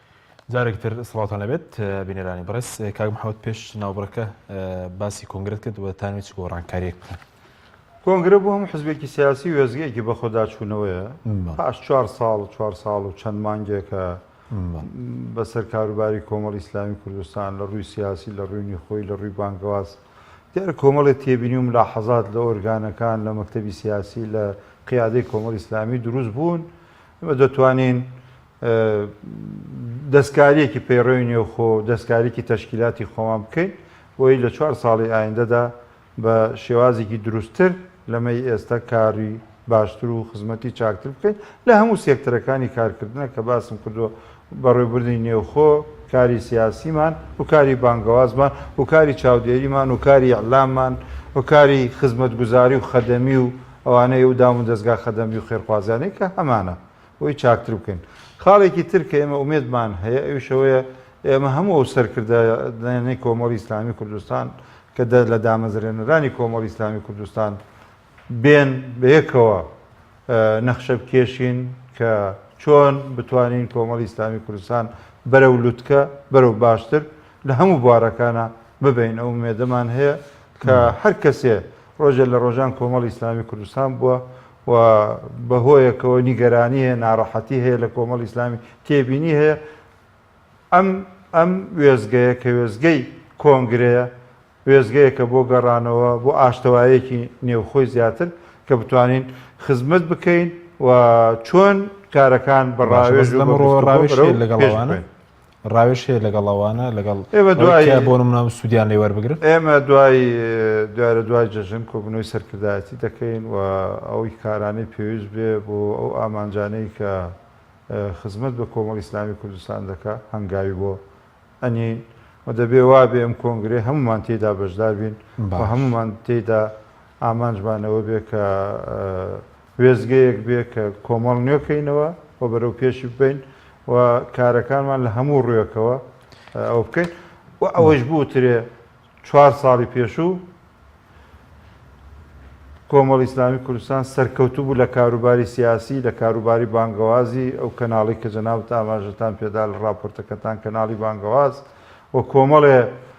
جارێک تر سڵاوتان لەبێت بینەرانی بڕێز کاک محەوت پێش ناوبڕەکە باسی کۆنگرێت کرد وە تانوی چ گۆڕانکاریەک بکەن کۆنگرە بۆ هەم حزبێکی سیاسی وێزگەیەکی بەخۆداچوونەوەیە پاش چوار ساڵ چوار ساڵ و چەند مانگێکە بەسەر کاروباری کۆمەڵ ئیسلامی کوردستان لە ڕووی سیاسی لە ڕووینی خۆی لە ڕووی بانگەواز دیار کۆمەڵێ تێبینی و لا حەزات لە ئۆرگانەکان لە مەکتتەبی سیاسی لە قیادەی کۆمەڵ ئیسلامی دروست بوون ئمە دەتوانین دەستکاریەکی پەیڕەوی نێوخۆ و دەستکاریکی تەشکیلاتی خۆمان بکەین بۆی لە چوار ساڵی ئایندەدا بە شێوازێکی دروستتر لەمەی ئێستا کاری باشتر و خزمەتی چاکتر بکەین لە هەموو سێکتەرەکانی کارکردنە کە باسم کردووە بەڕێوبردنی نێوخۆ کاری سیاسیمان و کاری بانگەوازمان و کاری چاودێریمان و کاری ئیعلاممان و کاری خزمەتگوزاری و خەدەمی و ئەوانەی و دام و دەزگا خەدەمی و خێرخوازیانەی کە هەمانە بۆی چاکتر بکەین. خاڵێکی تر کە ئێمە ئومێدمان هەیە ئەویش ئەوەیە ئێمە هەموو ئەو سەرکردانەی کۆمەڵی ئیسلامی کوردستان کە لە دامەزرێنەرانی کۆمەڵی ئیسلامی کوردستان بێن بەیەکەوە نەخشە بکێشین کە چۆن بتوانین کۆمەڵی ئیسلامی کوردستان بەرەو لوتکە بەرەو باشتر لە هەموو بوارەکانە ببین ئەو مێدەمان هەیە کە هەر کەسێ ڕۆژێ لە ڕۆژان کۆمەڵی ئیسلامی کوردستان بووە و بە هۆیەکەوە نیگەرانی هەیە نارەحەتی هەیە لە کۆمەڵی ئیسلامی تێبینی هەیە ئەم ئەم وێزگەیە کە وێزگەی کۆنگرەیە وێزگەیەکە بۆ گەڕانەوە بۆ ئاشتەوایەکی نێوخۆی زیاتر کە بتوانین خزمەت بکەین و چۆن کارەکان بەڕاوێژ لەگەڵوانە ڕاوێش هەیە لەگەڵ ئەوانە لەگەڵ ئێمە دوای بۆ منام سوودیان لێ وەربگرن ئێمە دوای دوارە دوای جەژن کۆبنەوەی سەرکردایەتی دەکەین و ئەوی کارانەی پێویست بێ بۆ ئەو ئامانجانەی کە خزمەت بە کۆمەڵ ئیسلامی کوردستان دەکە هەنگاوی بۆ ئەنین و دەبێ وا بێ ئەم کۆنگرێ هەمومان تێدا بەشدار بین بە هەمومان تێدا ئامانجمانەوە بێ کە وێستگەیەک بێ کە کۆمەڵ نوێ کەینەوە و بەرەو پێشی ببەین و کارەکانمان لە هەموو ڕوێکەوە ئەو بکەین و ئەوەش بوترێ چوار ساڵی پێشوو کۆمەڵ ئیسلامی کوردستان سەرکەوتو بوو لە کاروباری سیاسی لە کاروباری بانگەوازی ئەو کەناڵی کە جەناوت ئاماژەتان پێدا لە ڕاپۆرتەکەتان کەناڵی بانگەواز و کۆمەڵێ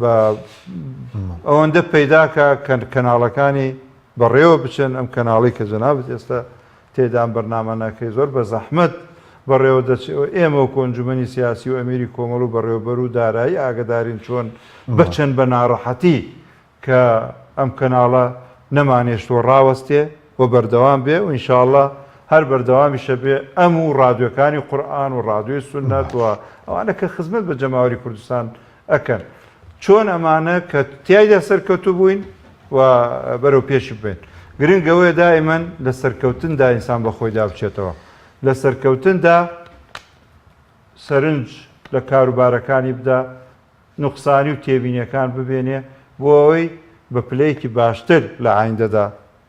با ئەوەندە پەیداکە کە کەناڵەکانی بەڕێوە بچن ئەم کەناڵی کە جەنابت ئێستا تێدان بەرنامە ناکەی زۆر بە زەحمەت بەڕێوە دەچێت و ئێمە و کۆنجومەنی سیاسی و ئەمیری کۆمەڵ و بەڕێوەبەر و دارایی ئاگدارین چۆن بچن بە ناڕەحەتی کە ئەم کەناڵە نەمانێشتوە ڕاوەستێ و بەردەوام بێ و ئینشاءاللە هەر بەردەوامیشە بێ ئەم و ڕادیۆکانی قورئان و ڕادیۆی سوننەت و ئەوانە کە خزمەت بە جەماوەری کوردستان ئەکەن چۆن ئەمانە کە تایدا سەرکەوتو بووین و بەرەو پێش بێن گرنگ ئەوەیە دائیمەن لە سەرکەوتندا ئینسان بە خۆی دابچێتەوە لە سەرکەوتندا سەرنج لە کاروبارەکانی بدا نوقسانی و تێبینیەکان ببێنێ بۆ ئەوەی بە پلەیەکی باشتر لە ئایندەدا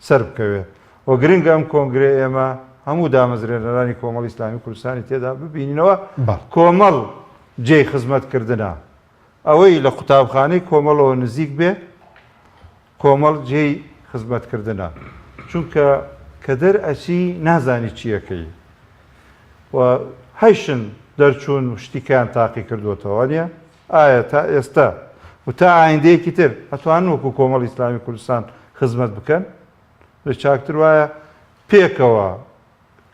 سەربکەوێ و گرنگە ئەم کۆنگرەی ئێمە هەموو دامەزرێنەرانی کۆمەڵی ئیسلامی کوردستانی تێدا ببیننەوە، کۆمەڵ جێی خزمەتکردنە، ئەوەی لە قوتابخانەی کۆمەڵەوە نزیک بێ کۆمەڵ جێی خزمەتکردنە، چونکە کە دەر ئەچی نازانی چی ئەکەی و هەیشن دەرچوون و شتی کەیان تاقی کردووەتەوە، وانیە؟ ئایا تا ئێستا و تا ئایندەیەکی تر ئەتوانن وەکو کۆمەڵی ئیسلامی کوردستان خزمەت بکەن؟ لە چاکتر وایە پێکەوە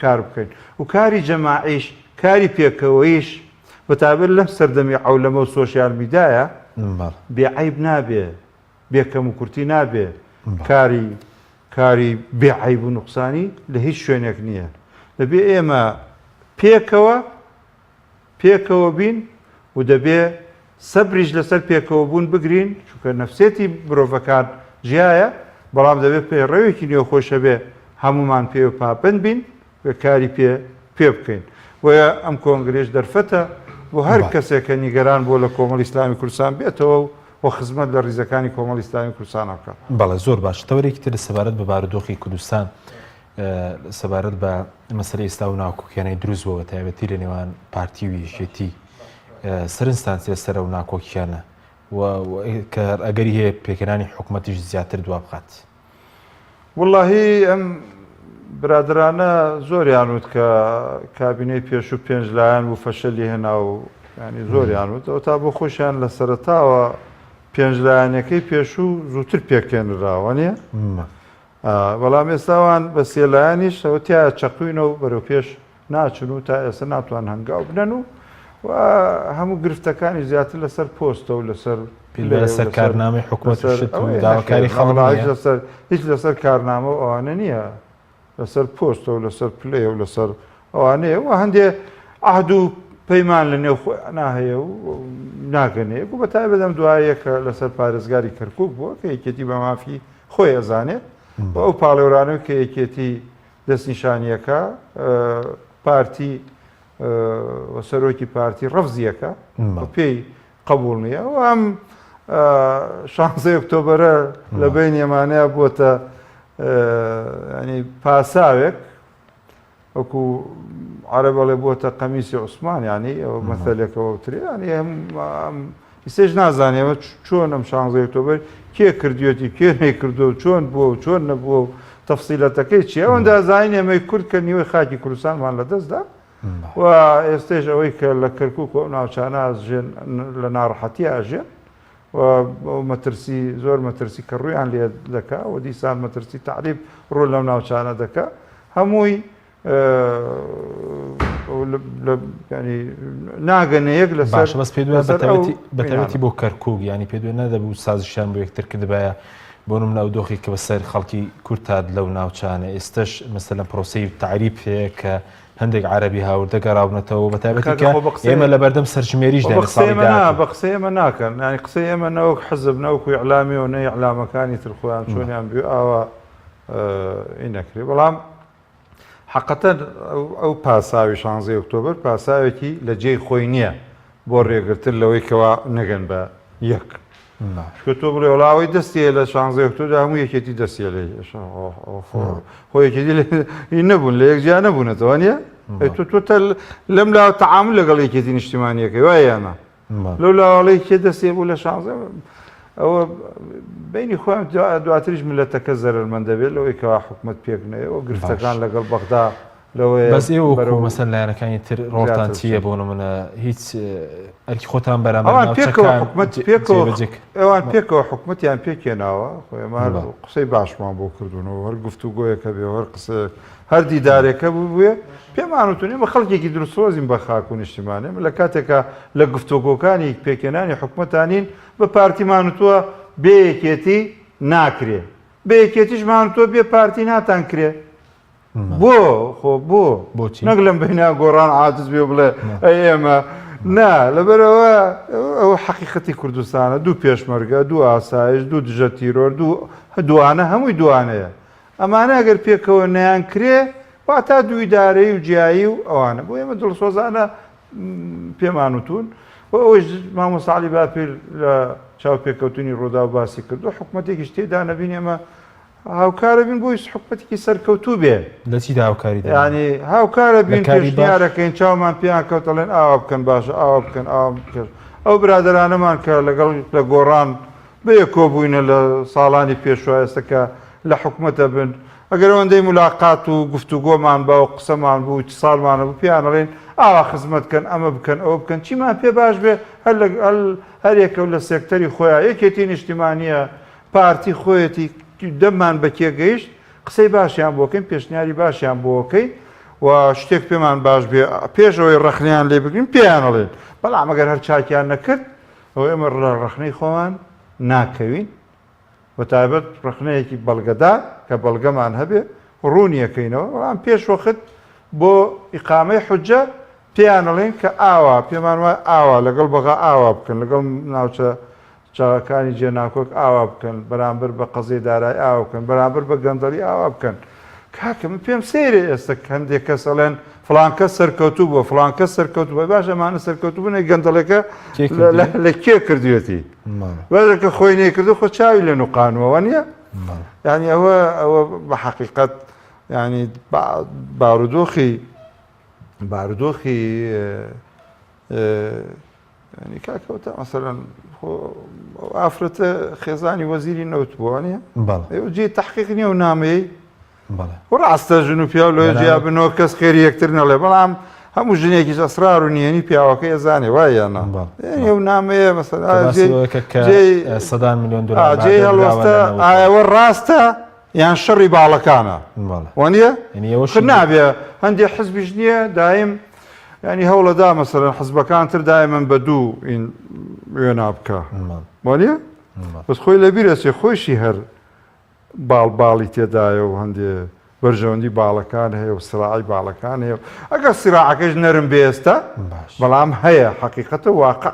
کار بکەین و کاری جەماعیش، کاری پێکەوەیش بە تایبەت لەم سەردەمی عەولەمە و سۆشیال میدایە بێ عەیب نابێ، بێ کەموکورتی نابێ، کاری کاری بێ عەیب و نوقسانی لە هیچ شوێنێک نییە. دەبێ ئێمە پێکەوە پێکەوە بین و دەبێ سەبریش لەسەر پێکەوە بوون بگرین چونکە نەفسێتی مرۆڤەکان جیایە بەڵام دەبێ پەیڕەوێکی نێوخۆش هەبێ هەموومان پێوە پابەند بین و کاری پێ پێ بکەین بۆیە ئەم کۆنگرەیش دەرفەتە بۆ هەر بەڵێ. کەسێک کە نیگەران بووە لە کۆمەڵی ئیسلامی کوردستان بێتەوە و و خزمەت لە ڕیزەکانی کۆمەڵی ئیسلامی کوردستانە بکات. بەڵێ زۆر باش تەوەرێکی تر سەبارەت بە بارودۆخی کوردستان. سەبارەت بە مەسەری ئیستا و ناکۆکیانەی دروست بۆ بە تایبەتی لە نێوان پارتی و یەکێتی سەرنجستان سێ سەرە و ناکۆکیانە کە ئەگەری هەیە پێکەانی حکوومەتیش زیاتر دوا بخات. وڵاهی ئەم برادرانە زۆریان وت کە کابینەی پێش و پێنج لایەن و فەشەلی هێنا و ینی زۆریان وت ئەو تا بۆ خۆشیان لە سەرتاوە پێنج لایەنەکەی پێشوو زووتر پێکێنراوە نیە بەڵام ئێستا ئەوان بە سێ لایەنیش ئەوە تایە چەقوینە و بەرەو پێش ناچن و تا ئێستا ناتوان هەنگاو بنەن و و هەموو گرفتەکانی زیاتر لەسەر پۆستە و لەسەر لەسەر کارنامەی حکوومەت داواکاری خەڵک لەسەر هیچ لەسەر کارنامە و ئەوانە نییە لەسەر پۆستە و لەسەر پلەیە و لەسەر ئەوانەیە و هەندێ عهد و پەیمان لە نێو خۆیانا هەیە و ناگەنێک و بەتای بەدەم دوایە کە لەسەر پارێزگاری کەرکک بووە کە یەکێتی بە مافی خۆی ئەزانێت و ئەو پاڵێورانەوە کە یەکێتی دەستنیشانیەکە پارتی سەرۆکی پارتی ڕەفزیەکە پێی قبول نییە و ئەم شانزە ئۆکتۆبرە لە بین ئێمانەیە بۆتە ینی پاساوێک وەکو عەرەب ئەڵێ بۆتە قەمیسی عوسمان یعنی ئەوە مەثەلێکە وەوترێ یعنی ئەم ئیسێش نازانێ ئەوە چۆن ئەم شانزەی ئۆکتۆبەر کێ کردوێتی کێ نەیکردو چۆن بووە و چۆن نەبووە و تەفسیلەتەکەی چی ئەوەندا زانین ئێمەی کورد کە نیوەی خاکی کوردستانمان لە دەستدا و ئێستێش ئەوەی کە لە کەرکک و ناوچانە ژێن لە ناڕەحەتی ئاژێن و مەترسی زۆر مەترسی کە ڕوویان لێ دەکا و دیسان مەترسی تەعریب ڕوو لەم ناوچانە دەکا هەمووی ینی ناگەنە یەک لە باش بەس پێ بەتەوەتی بۆ کەرکک ینی پێ دوێ نەدەبوو سازشیان بۆ یەکتر کردبایە بۆ نم ناو دۆخی کە بەسەر خەڵکی کورتاد لەو ناوچانە ئێستش مەسە لە پرۆسی تعریب هەیە کە هەندێک عەرەبی هاوردە گەڕاونەتەوە بە تایبەتی کاکە کە خۆ بە قسەی- ئێمە لە بەردەم سەرژمێریش خۆ داین بە قسەی ساڵی ئێمە نا داهاتوو. بە قسەی ئێمە ناکەن یانی قسەی ئێمە نەوەک حزب نەوەکو ئیعلامی و نە ئیعلامەکانی تر خۆیان چۆنیان بوێ ئاوا ی نەکری بەڵام حەقەتەن ئەو پاساوی شانزەی ئۆکتۆبەر پاساوێکی لە جێی خۆی نیە بۆ رێگرتن لەوەی کەوا نەگەن بە یەک چکە تۆ بڵێ وڵا ئەوەی دەستی هەیە لە شانزەی ئۆکتۆدا هەموو یەکێتی دەستی هەیە لە ئێشە خۆ یەکێتی لە ئی نەبوون لە یەک جیا نەبوونەتەوە نیە ئەی تۆ تۆ تەل لەم لاوە تەعامل لەگەڵ یەکێتی نیشتیمانیەکەی وایەنە لەو لاوەڵەی کێ دەستێ بوو لە شانزە ئەوە بینی خۆیان دواتریش ملەتەکە زەرەرمەند دەبێت لەوەی کەوا حکوومەت پێک نەیەوە گرفتەکان لەگەڵ بەغدا بەس ئێوە وەکو مەسەن لایەنەکانی تر ڕۆڵتان چییە بۆ نمونە هیچ ئەرکی خۆتان بەرامبەر ئەوان پێکەوە ناوچەکان حکومەت پێکەوە جێبەجێ کرد. ئەوان پێکەوە حکومەتیان پێکێناوە خۆ ئێمە هەر بەڵێ. قسەی باشمان بۆ کردوونەوە هەر گفتوگۆیەک هەبێ و هەر قسەیەک هەر دیدارێکە ببوێ پێمان وتون ئێمە خەڵکێکی دروسۆزین بە خاک و نیشتیمان ئێمە لە کاتێکا لە گفتوگۆکانی پێکێنانی حکومەتانین بە پارتیمان وتووە بێ یەکێتی ناکرێ بە یەکێتیشمان وتووە بێ پارتی ناتان کرێ بۆ خۆ بۆ بۆچی نەک لەم بەینا گۆڕان عادز بێ بڵێ ئێمە نا لەبەرەوە ئەو حەقیقەتی کوردستانە دوو پێشمەرگە دوو ئاسایش دوو دژە تیرۆر دوو دوانە هەمووی دوانەیە ئەمانە ئەگەر پێکەوە نیان کرێ واتا دوویدارەی و جیایی و ئەوانە بۆ ئێمە دڵسۆزانە پێمان وتون و ئەوش مامۆساعلی باپیر لە چاوپێکەوتنی ڕوودا و باسی کردو حکوومەتێکیش تێدا نەبین ئێمە هاوکارە بین بۆی حکومەتێکی سەرکەوتوو بێ. لە چیدا هاوکاری دەوێت؟ یانی هاوکارە بین پێشنیارەکەین چاومان پێیان کەوت ئەڵێن ئاوا بکەن باشە ئاوا بکەن ئاوا بکەن ئەو برادەرانەمان کە لەگەڵ لە گۆڕان بەیەک کۆبووینە لە ساڵانی پێشوە ئێستا کە لە حکومەتە بن ئەگەر ئەوەندەی ملاقات و گفتوگۆمان با و قسەمان بوو و چ ساڵمان هەبوو پێیان ئەڵێین ئاوا خزمەت کەن ئەمە بکەن ئەوە بکەن چیمان پێ باش بێ هەر لەگەڵ هەر یەکە و لە سێکتەری خۆیان یەکێتی نیشتیمانییە پارتی خۆیەتی دەممان بەکێگەیشت قسەی باشیان بۆکەین پێشنیاری باشیان بۆکەین و شتێک پێمان باش بێ پێش ئەوەی ڕخنیان لێ بگرین پێیانەڵێن بەڵام ئەگەر هەر چاکیان نەکرد ئەو ئێمە ڕە ڕخنەی خۆمان ناکەوین و تایبەت ڕخنەیەکی بەڵگەدار کە بەڵگەمان هەبێ ڕوونیەکەینەوە بەڵام پێش وەخت بۆ ئیقامەی حجە پێیانەڵێن کە ئاوا پێمان وای ئاوا لەگەڵ بەغا ئاوا بکەن لەگەڵ ناوچە چاکەکانی جێناکۆک ئاوا بکەن، بەرامبەر بە قەزیەی دارای ئاوا بکەن، بەرامبەر بە گەندەڵی ئاوا بکەن. کاکە من پێم سەیرە ئێستا هەندێک کەس ئەڵێن فڵان کەس سەرکەوتوو بووە، فڵان کەس سەرکەوتوو بووە، باشە ئەمانە سەرکەوتوو بوون ئەی گەندەڵەکە لە کێ کردوێتی؟ باشە کە خۆی نەیکردوو خۆ چاوی لێ نوقانووە وە نییە؟ یانی ئەوە ئەوە بە حەقیقەت ینی بارودۆخی بارودۆخی یانی کاک هۆتە مەسەلەن خۆ ئەو ئافرەتە خێزانی وەزیری نەوت بووە نیە بەڵێ ئەو جێی تحقیق نیە و نامەیەی بەڵێ و ڕاستە ژن و پیاو لە جیا بنەوە کەس خێری یەکتر نەڵێ بەڵام هەموو ژنێکیش ئەسرار و نیەنی پیاوەکە ئێزانێ وای یانە بەڵ یانی ئەو نامەیە مەسەلا جێی جێی سەدان میلیۆن دلار جێی هەڵوەستە ئایەوە ڕاستە یان شەڕی باڵەکانە وانە نابێ هەندێک حزبیش نییە دایم ینی هەوڵەدا مەسەرەن حزبەکان تر دای من بە دوو این وێنا بکە وانە بەس خۆی لە بیرەسێ خۆشی هەر باڵ باڵی تێدایە و هەندێ بەرژەوەندی باڵەکان هەیە و سراعی باڵەکان هەیە ئەگەر سراعەکەش نەرم بێستە بەڵام هەیە حقیقەتە واقع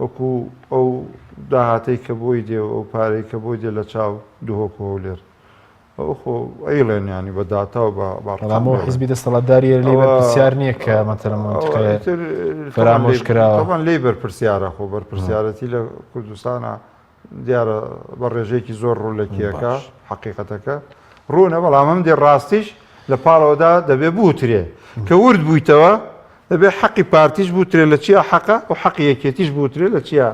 وەکو ئەو داهاتەی کە بۆی دێ و ئەو پارەی کە بۆی دێ لە چاو دهۆک و هەولێر. ئەوە خۆ ئەیڵێن یانی بە داتا و بە ئەڕقام دەڵێن. بەڵام ئەو حیزبی دەستەڵاتدارییە لێی بەرپرسیار نییە کە مەتەلا مەنتیقەیە فەرامۆش کراوە. تەبان لێی بەرپرسیارە خۆ بەرپرسیارەتی لە کوردستانا دیارە بە ڕێژەیەکی زۆر ڕوو لە کێکە حقیقەتەکە ڕوونە بەڵام ئەم دێ ڕاستیش لە پاڵەوەدا دەبێ بوترێ کە ورد بوویتەوە دەبێ حەقی پارتیش بوترێ لە چیا حەقە و حەقی یەکێتیش بوترێ لە چیا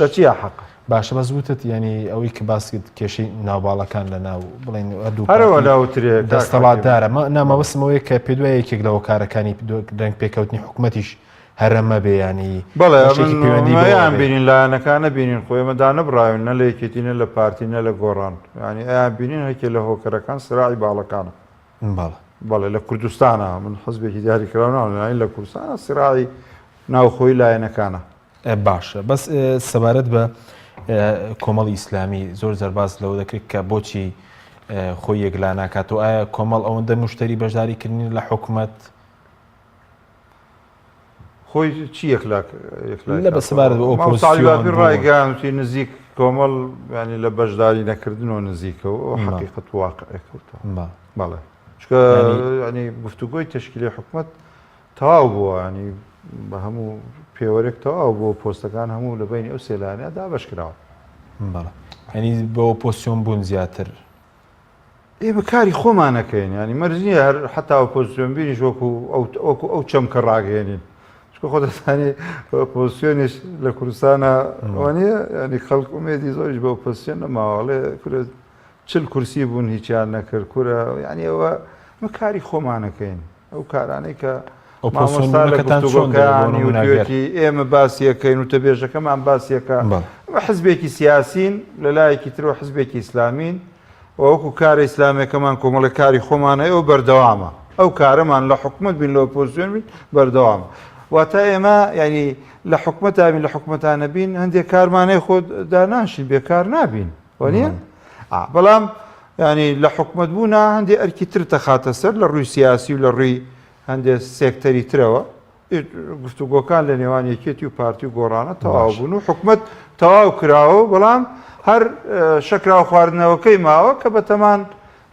لە چیا حەقە باشە بەس وتت ینی ئەوەی کە باسکت کێشەی ناوباڵەکان لە ناو بڵین دوو هەرەوە ناوترێ دەستەڵاتدارە نامەوەسمەوەی کە پێ دوای یەکێک لەوە کارەکانی دەنگ پێکەوتنی حکوومەتیش هەرە مەبێ یانی بەڵێ بەشێکی من پەیوەندی بەوە ئەیان بێ. بینین لایەنەکان نەبینین خۆ ئێمە دانەبڕاوین نە لە یەکێتی نە لە پارتی نە لە گۆڕان یانی ئەیان بینین هەرکێ لە هۆکەرەکان سراعی باڵەکانە بەڵێ. بەڵێ لە کوردستانا من حزبێکی دیاری کراو ناڵێم یانی لە کوردستانا سراعی ناوخۆی لایەنەکانە. ئێ باشە بەس ئێ سەبارەت بە ئێ کۆمەڵی ئیسلامی زۆر جار باس لەوە دەکرێت کە بۆچی ئێ خۆی یەکلا ناکاتەوە ئایا کۆمەڵ ئەوەندە مشتەری بەشداری کردنی لە حکومەت خۆی چی یەکلاک یەکلاک بە سەبارەت بە ئەوپۆزیسیۆن مامۆستا عەلی باپیر ڕایگەیاندوتی نزیک کۆمەڵ یانی لە بەشداری نەکردنەوە نزیکەوە ئەو حەقیقەت واقعێک کەوتەوە بەڵێ چکە ینی گفتوگۆی تشکیلی حکومت تەواو بووە ینی بە هەموو پێوەرێک تەواو بۆ پۆستەکان هەموو لە بینی ئەو سێلانە دابش کراوە ینی بەوە پۆسیۆن بوون زیاتر ئێمە کاری خۆمان نەکەین یانی مەرج نییە هەر حتا ئۆپۆزسیۆن بینیش وەکو وەکو ئەو چەمکە ڕاگەێنین چکە خۆ دەستانی ئۆپۆزسیۆنیش لە کوردستانە وانە ینی خەڵک ئومێدی زۆریش بە ئۆپۆسیۆن نەماواڵێ کورە چل کورسی بوون هیچیان نەکرد کورە یعنی ئەوە مە کاری خۆمانەکەین ئەو کارانەی کە مامۆستا لە گفتوگۆکەیانی وتوێتی ئێمە باسیەکەین و تەبێژەکەمان باسیەکە ئەمە حزبێکی سیاسین لە لایەکی ترەوە حزبێکی ئیسلامین وەکو کارە ئیسلامەکەمان کۆمەڵە کاری خۆمانە ئەو بەردەوامە ئەو کارەمان لە حکومت بین لە پۆزیۆن بین بەردەوام واتە ئێمە ینی لە حکومەتابین لە حکومەتانە بین هەندێک کارمانەی خۆ داناشین بێکار نابین وانیە؟ بەڵام ینی لە حکومت بوونا هەندێک ئەرکی تر دەخاتە سەر لە ڕووی سیاسی و لە ڕووی هەندێک سێکتەری ترەوە گفتوگۆکان لە نێوان یەکێتی و پارتی و گۆڕانە تەواو بوون و حکومت تەواو کراوە بەڵام هەر شەکراوە خواردنەوەکەی ماوە کە بەتەمان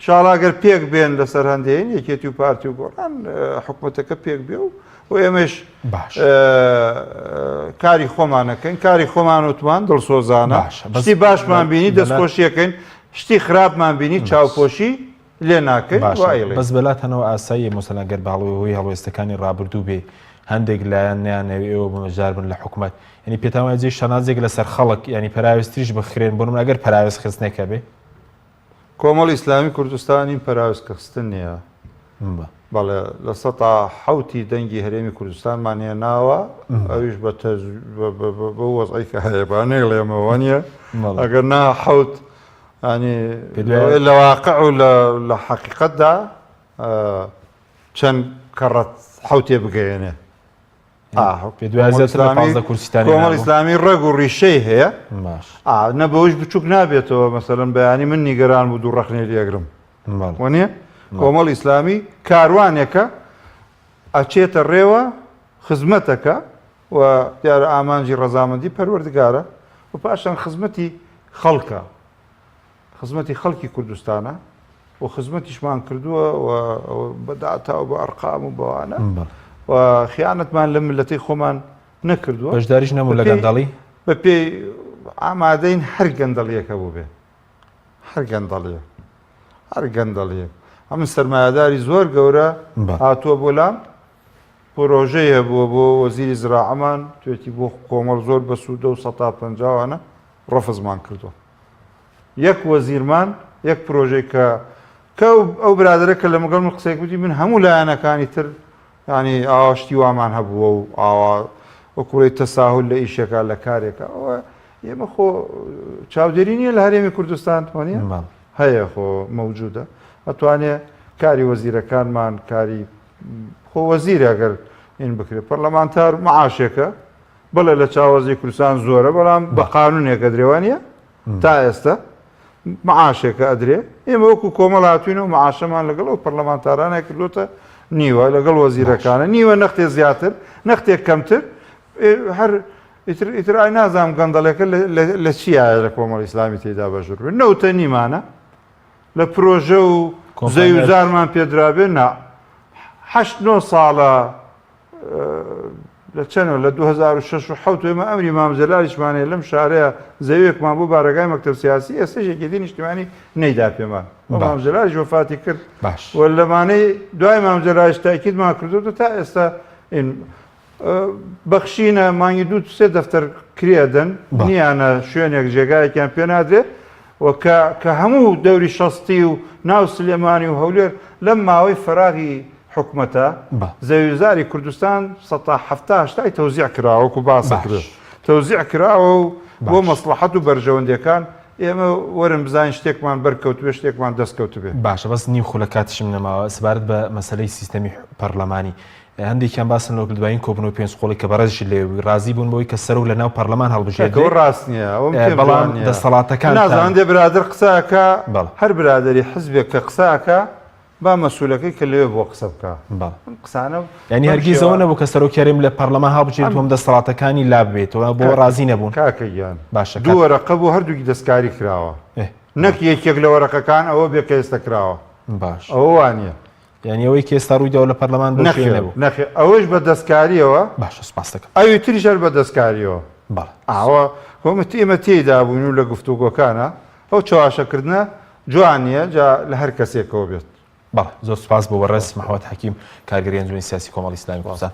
شاڵا گەر پێک بێن لەسەر هەندێن یەکێتی و پارتی و گۆڕان حکوومەتەکە پێک بێ و و ئێمەش باش کاری خۆمانەکەین کاری خۆمان وتمان دڵسۆزانە بەسی باشمان بینی دەستخۆشیەکەین شتی خراپمان بینی چاوپۆشی لێ ناکەین بەس بەلاتەنەوە ئاسایی مۆسەلاگەر باڵەوەی هۆی هەڵوێستەکانی ڕابردوو بێ هەندێک لایەن نیانەوێ ئێوە بەمەجار بن لە حکوومەت ینی پێتاوازی شانازێک لەسەر خەڵک ینی پراوێستریش بخرێن بۆ من ئەگەر پراوێز خستنێکە بێ کۆمەڵی ئیسلامی کوردستانی پەراوێز کە خستن نیە. بەڵێ لە سەتا حەوتی دەنگی هەرێمی کوردستانمان هێناوە ئەویش بە بە وەزعی کە هەیە با نێڵێمەوە نیە ئەگەر نا حەوت ئەنی لە واقع و لە حەقیقەتدا چەند کەڕەت حوتێ بگەێنێ کۆمەڵ ئیسلامی ڕێگ و ڕیشەی هەیە نە بەوش بچووک نابێتەوە مەسەرم بەیانی من نیگەران بوو دوو ڕخنێ لێگرم وەنیە کۆمەڵ ئیسلامی کاروانێکە ئەچێتە ڕێوە خزمەتەکە و دیارە ئامانجی ڕەزامەندی پەروەردگارە و پاشان خزمەتی خەڵکە خزمەتی خەڵکی کوردستانە و خزمەتیشمان کردووە و بە داتا و بە ئەرقام و بەوانە و خیانەتمان لە ملەتی خۆمان نەکردووە بەشداریش نەبوو لە گەندەڵی بە پێی ئامادەین هەر گەندەڵیەکە بوو بێ هەر گەندەڵیە هەر گەندەڵیە ئەمن سەرمایهداری زۆر گەورە هاتووە بۆ لام پرۆژەی هەبووە بۆ وەزیری زراعەمان توێتی بۆ کۆمەڵ زۆر بەسوودە و سە پنجاوانە ڕفزمان کردووە یەک وەزیرمان یەک پرۆژەی کە کە ئەو برادرە کە لە مەگەڵ من قسەی کوتی من هەموو لایەنەکانی تر ینی ئاشتی وامان هەبووە و ئاوا وەکوڵی تەساهل لە ئیشێکە لە کارێکە ئەوە ئێمە خۆ چاودێری نییە لە هەرێمی کوردستان توانە هەیە خۆ مەوجودە ئەتوانێ کاری وەزیرەکانمان کاری خۆ وەزیرە گەر این بکرێت پەرلەمانتار معاشێکە بەڵێ لە چاوەزی کوردستان زۆرە بەڵام بە قانونێکە درێوانە تا ئێستا معاشێکە ئەدرێ ئێمە وەکو کۆمەڵ هاتوینەوە معاشەمان لەگەڵ ئەو پەرلەمانتارانە کردوتە نیوە لەگەڵ وەزیرەکانە نیوە نەختێ زیاتر نەختێک کەمتر هەر ئیتر ئیتر ئای نازام گەندەڵێکە لە چیایە لە کۆمەڵی ئسلامی تێدا بەژور بێت نەوتە نیمانە لە پرۆژە و زەویزارمان پێدرابێ نا هەشت نۆ ساڵە لە چەنەوە لە دوو هەزار و شەش و حەوت ئێمە ئەمری مام جەلالیشمان هەیە لەم شارەیە زەویەکمان بۆ بارەگای مەکتەب سیاسی ئێستەش یەکێتی نیشتیمانی نەیدا پێمان بۆ مام جەلالیش وەفاتی کرد باش و لەمانەی دوای مام جەلالیش تاکیدمان کردوتە تا ئێستا بەخشینە مانگی دوو سێ دەفتەر کرێدەن نیانە شوێنێک جێگایەکیان پێنادرێت و کە کە هەموو دەوری شەستی و ناو سلێمانی و هەولێر لەم ماوەی فەراغی حکومەتە بە. زەویوزاری کوردستان سەتا حەفتا هەشتای تەوزیع کراوە وەکو باسە کرد باش. تەوزیع کراوە و بۆ باش. مەسڵەحەت و بەرژەوەندیەکان ئێمە وەرن بزانین شتێکمان بەر کەوتبێ شتێکمان دەست کەوتبێ. باشە بەس نیو خولەک کاتیشم نەماوە سەبارەت بە مەسەلەی سیستەمی حو پەڕلەمانی هەندێکیان باسن لەوە کرد دوایین کۆبوونەوەی پێنج قۆڵی کە بەڕێزیشت لەوێ بووی، ڕازی بوون بەوەی کە سەرۆک لەناو پەڕلەمان هەڵبژێردرێت، کاکە ئەوە ڕاست نییە، ئەوە پێم جوان بەڵام نییە. دەسەڵاتەکانتان. نازانم هەندێ برادەر قسە ئەکا، بەڵێ. هەر برادەری حزبێک کە قسە ئەکا با مەسئولەکەی کە لەوێ بووە قسە بکا. بەڵێ. ئەم قسانە یانی بەم هەرگیز ئەوە شێوە. نەبوو کە سەرۆک یاریم لە پەڕلەمان هەڵبژێریت و هەم دەسەڵاتەکانی لا ببێتەوە، بۆ کاکە. ڕازی نەبوون؟ کاکە گیان. باشە دوو کاک. وەرەقە بوو هەردووکی دەستکاری کراوە. ئێ. نەک یەکێک لە وەرەقەکان ئەوە بێ کە ئێستا کراوە. باش. ئەوە وا نییە. یعنی ئەوەی کە ئێستا ڕوویداوە لە پەرلەمان بۆ شوێنێ بوو؟ نەخێر نەخێر ئەوەش بە دەستکارییەوە باشە سوپاست دەکەم ئەوی تریش هەر بە دەستکارییەوە بەڵێ ئەوە وەمت ئێمە تێیدا بووین و لە گفتوگۆکانە ئەو چەواشەکردنە جوان نییە جا لە هەر کەسێکەوە بێت. بەڵێ زۆر سوپاس بۆ بەڕێز محمد حەکیم کارگێری ئەنجومەنی سیاسی کۆمەڵی ئیسلامی کوردستان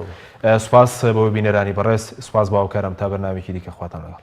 سوپاس بۆ بینەرانی بەڕێز سوپاس بۆ هاوکارم تا بەرنامەیەکی دیکە خواتان لەگەڵ.